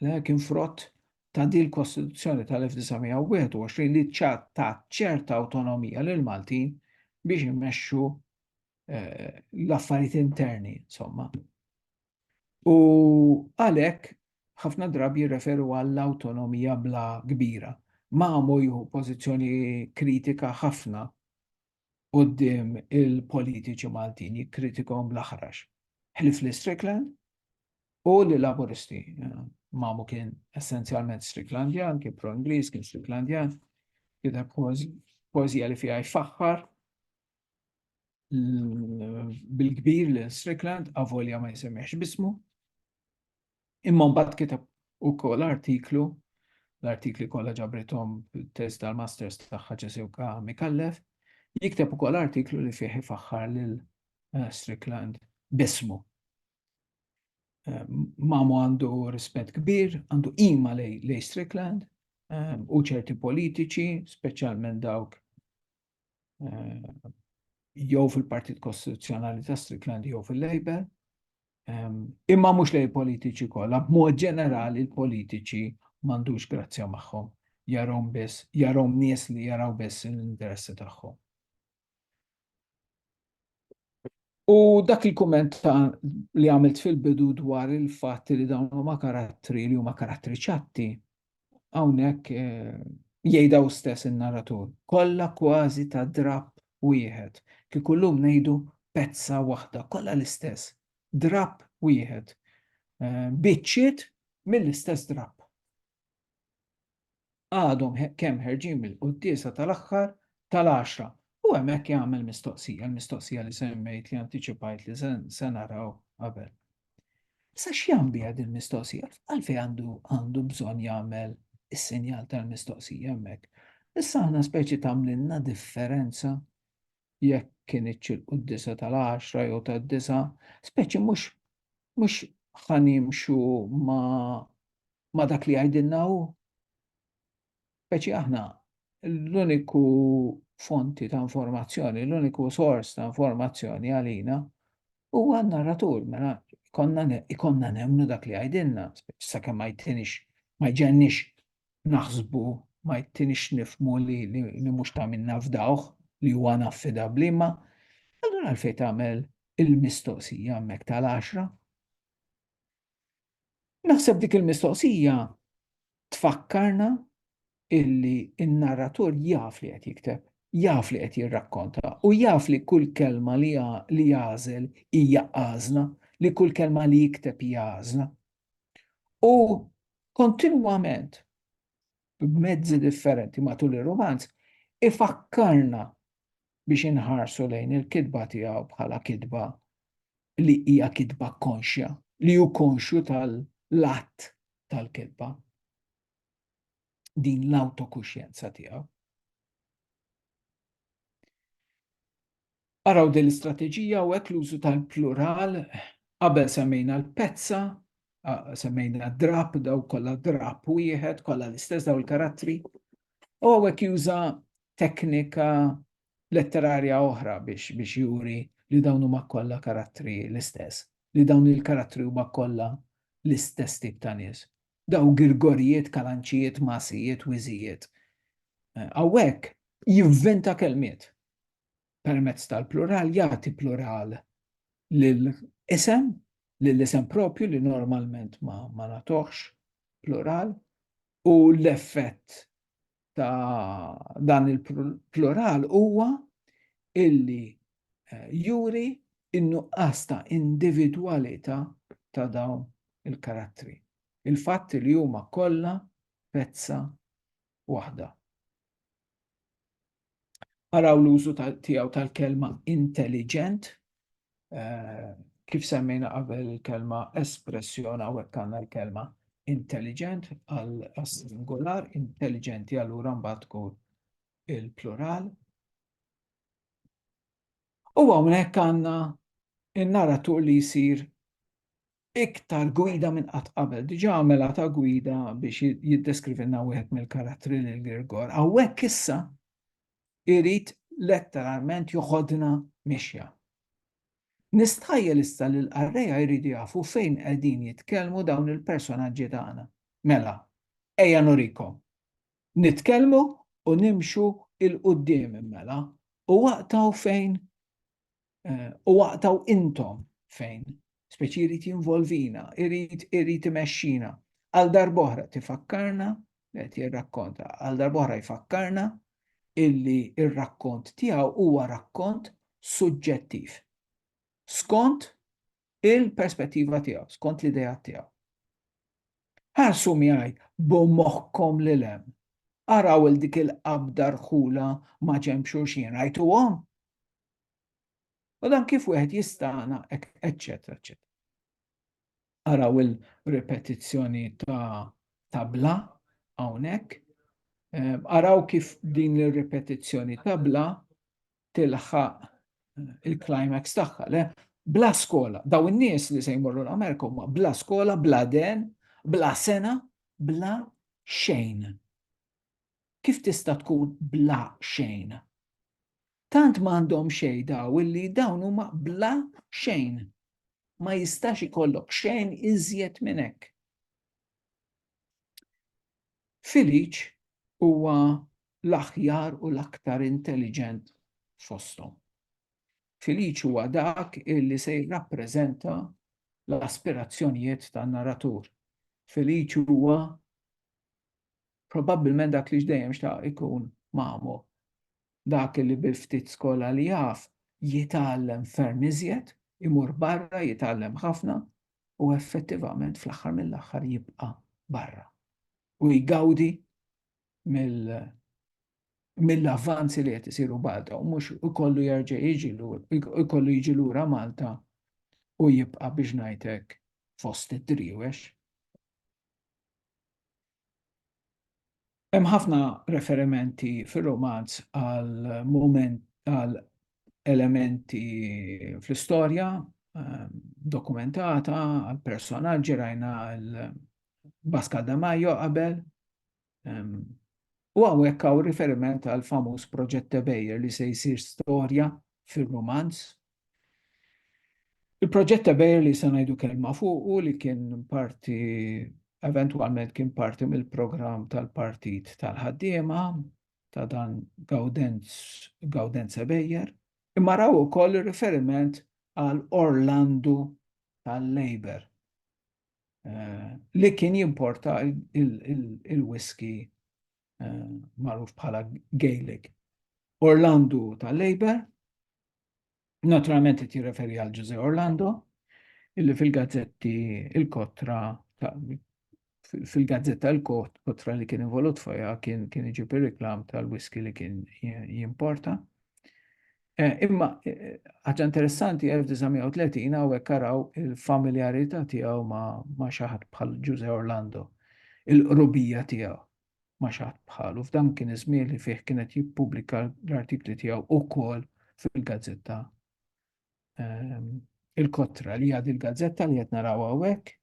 kien frott ta' din l-Kostituzzjoni tal-1921 li ta' ċerta awtonomija lil Maltin biex immexxu l-affarijiet interni, insomma. U għalhekk ħafna drabi jirreferu għall-awtonomija bla kbira. Mamo jieħu pożizzjoni kritika ħafna quddiem il-politiċi Maltin, jikkritikahom bl-aħrax. Ħlief li Strickland u li Laburisti. Mamo kien essenzjalment Stricklandjan, kien pro-Ingliż, kien Stricklandjan, kien pożija li fiha jfaħħar bil-kbir li Strickland avolja ma jsemmiex bismu. Imma mbagħad kitab ukoll artiklu l-artikli kollha ġabrithom test tal-masters tagħha ġesewka mikallef, jikteb ukoll artiklu li fih ifaħħar lil eh, Strickland bismu. Eh, Mamu għandu rispett kbir, għandu ima lej Strickland eh, u ċerti politiċi, speċjalment dawk eh, jew fil-Partit Kostituzzjonali ta' Strickland jew fil-Labor, ehm, imma mhux lej politiċi kollha, b'mod ġenerali l-politiċi m'għandux grazzja magħhom, jarhom biss, jarhom nies li jaraw biss l-interessi tagħhom. U dak il-kumment li għamilt fil-bidu dwar il-fatt li dawn huma karattri li huma karattri ċatti, hawnhekk eh, jgħidaw stess in-narratur. Kollha kważi ta' drab wieħed, kif kullum ngħidu pezza waħda, kollha l-istess, drab wieħed. Eh, biċċiet mill-istess drab. għadhom kemm ħerġin mill-quddiesa tal-aħħar tal-għaxra. U hemmhekk jagħmel mistoqsija, l-mistoqsija li semmejt li antiċipajt li se naraw qabel. Sa x'jam biha din mistoqsija? Għalfej għandu għandu bżonn jagħmel is-sinjal tal-mistoqsija hemmhekk. Issa aħna speċi tagħmlilna differenza jekk kien iċċilqu d-disa tal-10 jew tad-disa, speċi mhux mhux ħanimxu ma ma' dak li jgħidilna hu. Speċi aħna l-uniku fonti ta' informazzjoni, l-uniku sors ta' informazzjoni għalina huwa n-narratur, mela ikonna nemnu dak li għajdinna, sakemm ma jtinix, ma jġennix naħsbu, ma jtinix nifmu li mhux ta' minna fdawh li huwa naffidabli, ma allura għalfejn tagħmel il-mistoqsija hemmhekk tal-għaxra. Naħseb dik il-mistoqsija tfakkarna illi n-narratur jaf li qed jikteb, jaf li qed jirrakkonta u jaf li kull kelma li li jagħżel hija għażla, li kull kelma li jikteb hija għażla. U kontinwament b'mezzi differenti matul ir-rumanz ifakkarna biex inħarsu lejn il-kitba tiegħu bħala kitba li hija kitba konxja, li hu konxju tal-att tal-kitba. Din l-awtokuxjenza tiegħu. Araw din l-istrateġija hawnhekk l-użu tal-plural qabel semmejna l-pezza, semmejna drab daw kollha drab wieħed, kollha l-istess daw il-karattri. U hawnhekk juża teknika letterarja oħra biex biex juri li dawn huma kollha karattri l-istess, li dawn il-karattri huma kollha l-istess tip ta' nies. Daw girgorijiet, kalanċijiet, masijiet, wiżijiet. Hawnhekk jivventa kelmiet. permezz tal-plural jagħti plural lil isem, lil isem propju li normalment ma, ma natoħx plural u l-effett ta' dan il-plural huwa illi eh, juri in-nuqqas ta' individwalità ta' dawn il-karattri. Il-fatt li huma kollha pezza waħda. Araw l-użu tiegħu tal-kelma intelligent, eh, kif semmejna qabel il-kelma espressjon hawnhekk għandna l-kelma intelligent għal singular, intelligenti allura mbagħad tkun il-plural. U hawnhekk għandna in-naratur li jsir iktar gwida minn qatt qabel. Diġà għamela ta' gwida biex jiddeskrivilna wieħed mill-karattri lil Girgor. Hawnhekk issa irid letteralment joħodna mixja. Nistajjel issa li l-qarreja jridu jafu fejn qegħdin jitkellmu dawn il-personaġġi tagħna. Mela, ejja nurikom. Nitkellmu u nimxu il-qudiem mela u waqtaw fejn Eh, u waqtaw intom fejn, speċi jrid jinvolvina, jrid jrid imexxina. Għal darboħra tifakkarna, qed jirrakkonta, għal darboħra jfakkarna illi ir-rakkont tiegħu huwa rakkont suġġettiv. Skont il-perspettiva tiegħu, skont l-idea tiegħu. Ħarsu miegħi b'moħħkom lil hemm. Araw il dik il-qabda rħula ma' ġemxu xien rajtuhom U dan kif wieħed jistana, eċċetera, eċċetera. Araw il-repetizzjoni ta' tabla hawnhekk. Ehm, araw kif din ir-repetizzjoni ta' bla tilħaq il-climax tagħha, le? Bla skola, daw in-nies li se jmorru l-Amerika huma bla skola, bla den, bla sena, bla xejn. Kif tista' tkun bla xejn? Tant m'għandhom xejn daw illi dawn huma bla xejn. Ma jistax ikollok xejn iżjed minn hekk. Filiċ huwa l-aħjar u l-aktar intelliġent fosthom. Filiċ huwa dak illi se jirrappreżenta l-aspirazzjonijiet tan-narratur. Filiċ huwa probabbilment dak li x'dejjem xtaq ikun Mamo. Dak li bil-ftit skola li jaf jitgħallem ferm iżjed, imur barra jitgħallem ħafna u effettivament fl-aħħar mill-aħħar jibqa' barra u jgawdi mill-avvanzi li qed isiru Malta u mhux ikollu jerġa' jiġi ikollu jiġi lura Malta u jibqa' biex ngħidlek fost id-driwex. Hemm ħafna referimenti fir-rumanz għal mument għal elementi fl-istorja ehm, dokumentata għal personaġġi rajna l-Bascal da Majo qabel. Ehm, u għawek għaw riferiment għal famuż proġett Tebejer li se jsir storja fil-romanz Il-proġett ta' Bayer li se ngħidu kelma fuqu li kien parti eventwalment kien parti mill-programm tal-Partit tal-Ħaddiema ta' dan Gaudenz Bejer, imma raw ukoll riferiment għal Orlandu tal-Labor eh, li kien jimporta il-whisky eh, magħruf bħala Gaelic. Orlandu tal-Labor Naturalment qed jirreferi għal Ġużè Orlando, illi fil-gazzetti il-kotra fil-gazzetta l-kotra li kien involut fajha kien kien iġib ir-reklam tal-whisky li kien jimporta. Eh, imma eh, ħaġa interessanti 1930 hawnhekk araw il-familjarità tiegħu ma' xi ħadd bħal Ġużè Orlando, il-qrubija tiegħu. ma xaħt bħalu. F'dan kien iż-żmien li fih kienet jippubblika l-artikli tiegħu ukoll fil-gazzetta ehm, il-kotra li għad il-gazzetta li qed naraw hawnhekk.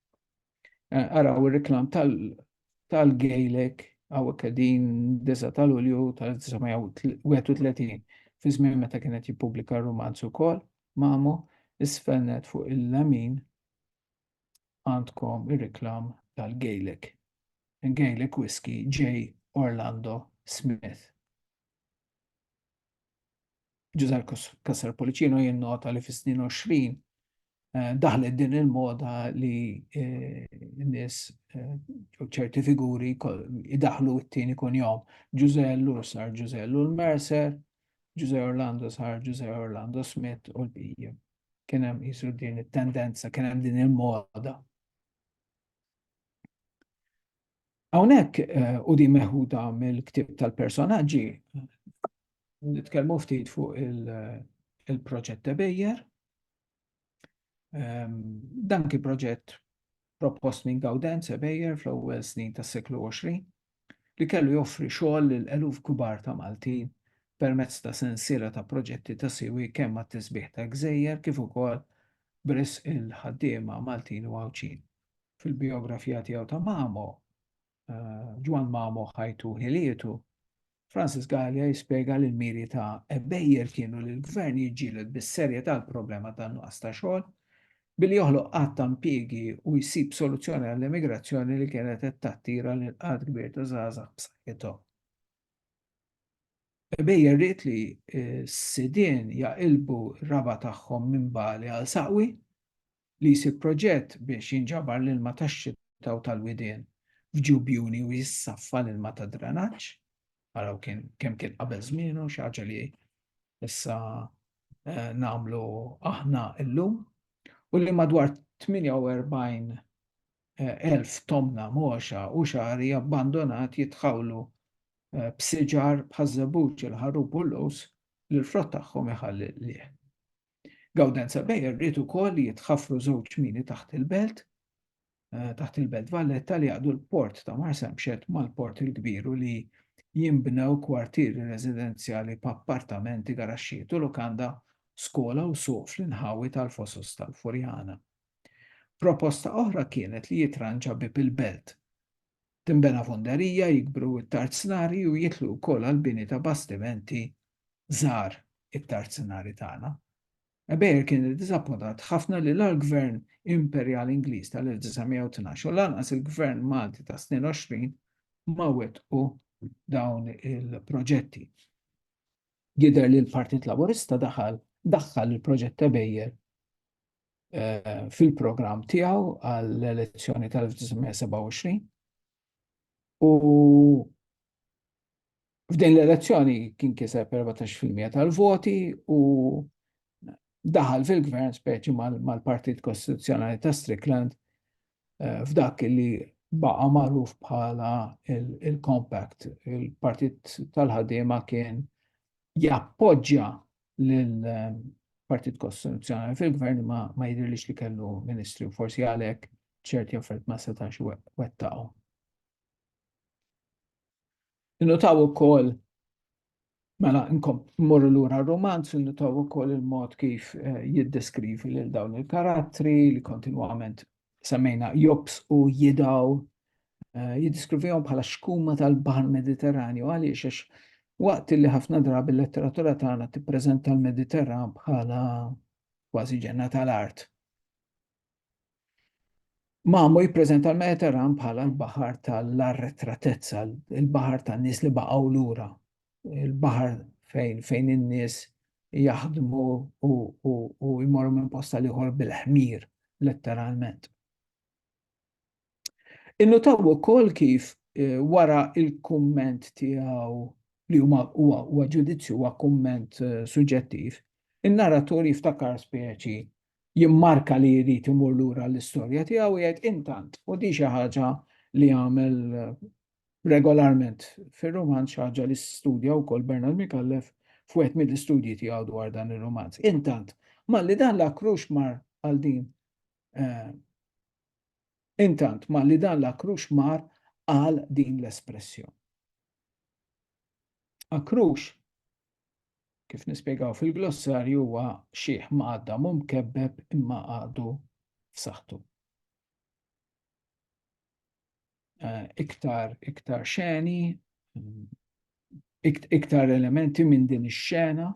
Eh, araw ir-reklam tal-Gejlek hawnhekk qegħdin disa tal-Ulju tal-1931 fi żmien meta kienet jippubblika r-romanz ukoll mamu isfennet fuq il-lamin għandkom ir-reklam tal-Gaelic. Gaelic Whiskey J. Orlando Smith. Ġużar Kassar Policino jinnota li fis-snin 20 eh, daħlet din il-moda li eh, n-nis eh, ċerti figuri idaħlu it-tieni kun jom. Ġuże Lur sar Ġuże Lur Mercer, Ġuże Orlando sar Ġuże Orlando Smith u l-bija. kien hemm qisu din it-tendenza, kien hemm din il-moda. Hawnhekk eh, u din meħuda mill-ktieb tal-personaġġi nitkellmu ftit fuq il-proġett Tebejjer. Ehm, dan kien proġett propost minn Gaudenz e Beyer fl-ewwel snin tas-seklu 20, li kellu joffri xogħol lil eluf kbar ta' Maltin permezz ta' sensiela ta' proġetti ta' siwi kemm għat-tisbiħ tal-gżejjer kif ukoll b'risq il-ħaddiema Maltin u Għawdxin. Fil-bijografija tiegħu ta' Mamo, eh, Ġwan Mamo ħajtu ħilietu, Francis Gallia jispjega li l-miri ta' Ebbejer kienu li l-gvern jiġġieled bis-serjetà l-problema ta' nuqqas ta' xogħol billi joħloq qatt ta' impjiegi u jsib soluzzjoni għall-immigrazzjoni li kienet qed tattira lil qatt kbir ta' żgħażagħ b'saħħithom. Bejja rrid li s-sidien jaqilbu raba tagħhom minn Bali għal Saqwi li jsir proġett biex jinġabar l-ilma tax-xita u tal-widien f'ġiu bjuni u jissaffa l-ilma tad-drenaġġ. Araw kien kemm kien qabel żmienu, xi ħaġa li issa nagħmlu aħna llum. U li madwar 48 elf tomna mogħxa u xagħri abbandonat jitħawlu b'siġar bħaż-żebbuġ, il-ħarrub u l-lus li l-frott tagħhom iħalli l-qligħ. Gaudenza Beyer ried ukoll li jitħaffru żewġ mini taħt il-belt Eh, taħt il-Belt Valletta li għadu l-port ta' Marsamxet mal-port il-kbiru li jimbnew kwartieri residenzjali b'appartamenti, garaxxiet u lokanda, skola u suq fl-inħawi tal-fosos tal-Furjana. Proposta oħra kienet li jitranġa bib il-belt. Timbena fonderija jikbru it-tard snari u jitlu wkoll għal bini ta' bastimenti żar it-tarzinari tagħna. Bayer kien iddiżappuntat ħafna li la l-Gvern Imperjali Ingliż tal-1912 u lanqas il-Gvern Malti tas-22 ma wettqu dawn il-proġetti. Jidher li l-Partit Laburista daħal daħħal il-proġett ta' Bayer fil-programm tiegħu għall-elezzjoni tal-1927 U f'din l-elezzjoni kien kiseb 14% tal-voti u daħal fil-gvern speċi mal-Partit Kostituzzjonali ta' Strickland eh, f'dak li baqa magħruf bħala il-compact. Il-Partit tal-ħaddiema kien jappoġġja l-Partit Kostituzzjonali fil-Gvern ma, ma jidhirlix li kellu ministri u forsi għalhekk ċerti affarijiet ma setax wettaqhom. Innutaw ukoll mela mmorru lura r-romanz, innutaw ukoll il-mod kif eh, jiddeskrivi lil dawn il-karattri li kontinwament semmejna jobs u jidaw eh, jiddiskrivihom bħala xkuma tal-Baħar Mediterranju għaliex għax waqt li ħafna drabi l-letteratura tagħna tippreżenta l-Mediterran bħala kważi ġenna tal-art. Mamu jippreżenta l-Mediterran bħala l-baħar tal-arretratezza, il-baħar tan-nies li baqgħu lura, il-baħar fejn fejn in-nies jaħdmu u, u, u jmorru minn posta liħor bil-ħmir, letteralment. Innutaw ukoll kif eh, wara il-kumment tiegħu li huma huwa ġudizzju huwa kumment eh, suġġettiv, in-narratur jiftakar speċi jimmarka li jrid imur lura l-istorja tiegħu jgħid intant u di xi ħaġa li għamel eh, regolarment fir-rumanz, xi ħaġa li studja wkoll Bernard Micallef f'wieħed mill-istudji tiegħu dwar dan ir-rumanz. Intant, malli dan l-akrux mar għal din eh, Intant, malli dan l-akrux mar għal din l-espressjoni. Akrux, kif nispjegaw fil-glossarju huwa xieħ ma għadda mum kebbeb imma għadu f'saħħtu. eh, iktar iktar xeni, iktar elementi minn din ix-xena.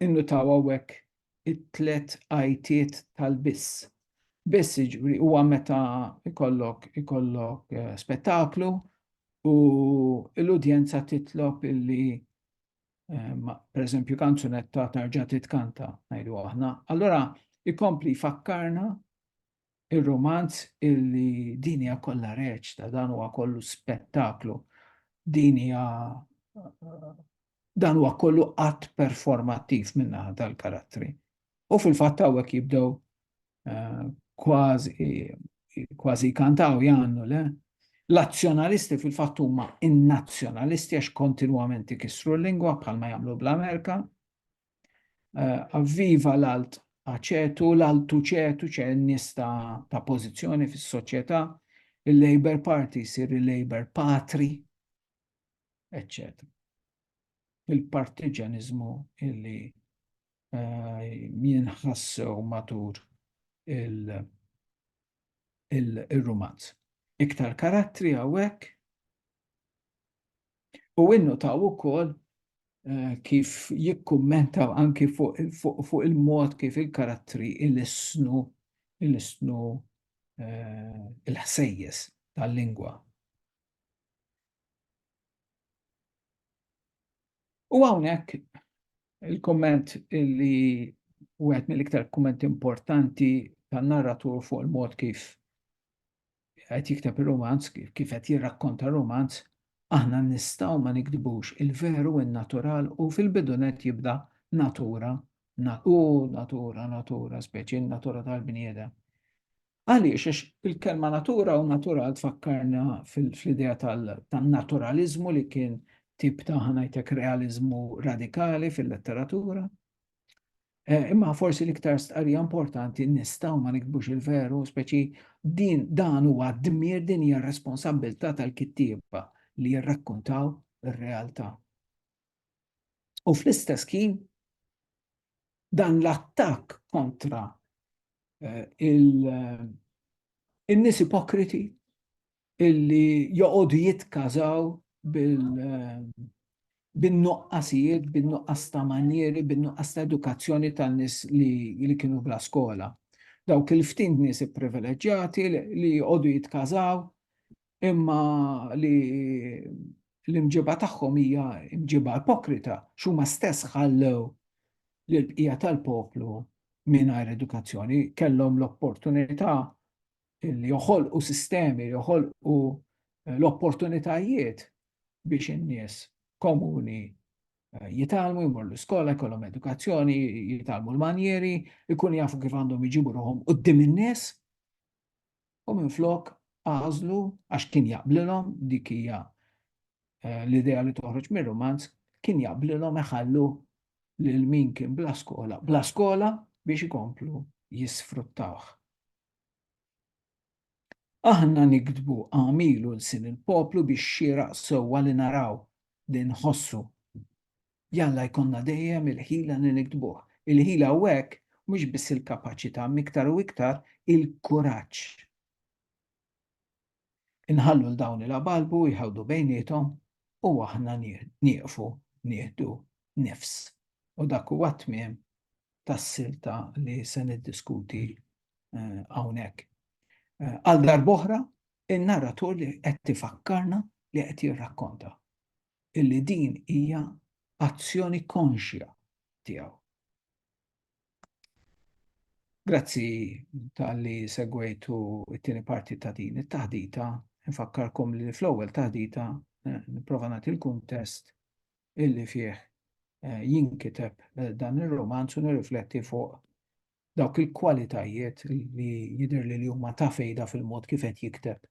Innu taw għawek it-tlet għajtiet tal-biss. Biss iġbri huwa meta ikollok ikollok eh, spettaklu u l-udjenza titlob illi Ma, per eżempju, kanzunetta tarġa titkanta, najdu aħna. Allora, ikompli fakkarna il-romanz illi dinja kollha reċta, dan huwa kollu spettaklu, dinja dan huwa kollu att performattiv minna tal-karattri. U fil-fatt hawnhekk jibdew eh, kważi kantaw jannu le. L-azzjonalisti fil-fatt huma in-nazzjonalisti għax kontinwament ikissru l-lingwa bħalma jagħmlu bl-Amerika. Eh, avviva l-alt aċetu, l-altu ċetu ċe nista ta' pożizzjoni fis-soċjetà, il-Labor Party jsir il-Labor Patri, eccetera il-partiġanizmu illi min ħassew matur il-rumanz. Iktar karattri għawek u innu ta' u kol eh, kif jikkummentaw anki fuq il-mod kif il-karattri il-isnu il-isnu eh, il-ħsejjes tal-lingwa. U għawnek Il-kumment li wieħed mill-iktar kummenti importanti tan-narratur fuq il-mod kif qed jikteb ir-rumanz, kif qed jirrakkonta r-rumanz, aħna nistgħu ma nikdbux il-veru in-natural u fil-bidunet jibda natura, u natura, natura, speċi natura tal-bniedem. Għaliex? Għax il-kelma natura u natural tfakkarna fl-idea tan-naturaliżmu li kien tip ta' ħanajtek realiżmu radikali fil-letteratura. Eh, imma forsi l-iktar stqarrija importanti nistaw ma nikbux il-veru, speċi din dan huwa dmir din hija responsabilità tal-kittieba li jirrakkuntaw ir-realtà. U fl-istess ħin dan l-attakk kontra eh, eh, il-nies ipokriti illi joqogħdu jitkażaw eh, bin-nuqqasijiet, bin-nuqqas ta' manjeri, bin-nuqqas ta' edukazzjoni tan-nies li kienu bla skola. Dawk il-ftin nies ipprivileġġjati li joqogħdu jitkażaw imma li l-imġiba tagħhom hija mġiba ipokrita x'huma stess ħallew lill-bqija tal-poplu mingħajr edukazzjoni, kellhom l-opportunità li joħolqu sistemi, joħolqu eh, l-opportunitajiet biex in-nies komuni eh, jitalmu, jmur l-iskola, jkollhom edukazzjoni, jitalmu l-manjeri, ikun jafu kif għandhom iġibu ruħom qudiem in-nies. u minflok għażlu għax kien jaqblilhom dik hija eh, l-idea li toħroġ mir-romanz kien jaqblilhom iħallu lil min kien bla skola, bla skola biex ikomplu jisfruttawh. Aħna nikdbu għamilu l-sin il-poplu biex xieraq sewwa li naraw li nħossu Jalla jkollna dejjem il-ħila li niktbuh. Il-ħila hawnhekk mhux biss il-kapaċità imma iktar u iktar il-kuraġġ. Inħallu 'l dawn il-abalbu jħawdu bejniethom u aħna nieqfu nieħdu nifs. U dak huwa t-tmiem tas-silta li se niddiskuti hawnhekk. Għal darb'oħra, in-narratur li qed ifakkarna li qed jirrakkonta. illi din hija azzjoni konxja tiegħu. Grazzi tal-li segwejtu it-tieni parti ta' din it-taħdita, nfakkarkom li fl-ewwel taħdita eh, nipprova nagħti l-kuntest illi fih eh, jinkiteb eh, dan ir-romanz u nirrifletti fuq dawk il-kwalitajiet li jidher li huma ta' fejda fil-mod kif qed jikteb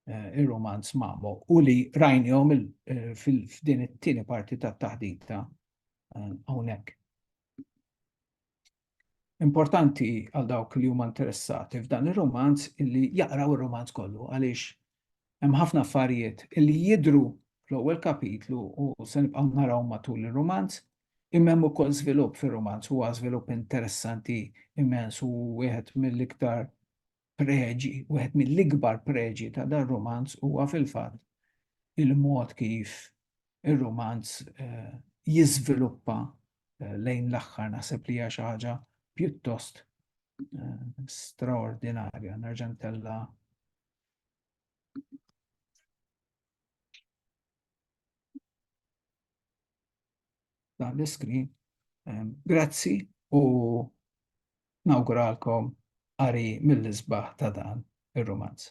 eh, ir-romanz Mamo u li rajnihom eh, f'din it-tieni parti tat-taħdita eh, hawnhekk. Importanti għal dawk li huma interessati f'dan ir-romanz li jaqraw ir-romanz kollu għaliex Hemm ħafna affarijiet li jidhru fl-ewwel kapitlu u se nibqgħu narawhom matul ir-rumanz, imma hemm ukoll żvilupp fir-rumanz, huwa żvilupp interessanti immens u wieħed mill-iktar preġi, wieħed mill-ikbar preġi ta' dar-rumanz huwa fil-fatt il-mod kif ir-rumanz jiżviluppa lejn l-aħħar naħseb li hija xi ħaġa pjuttost straordinarja. Nerġa' ntella' dan l-iskrin. Ehm, grazzi u nawguralkom għari mill-isbaħ ta' dan ir-romanz.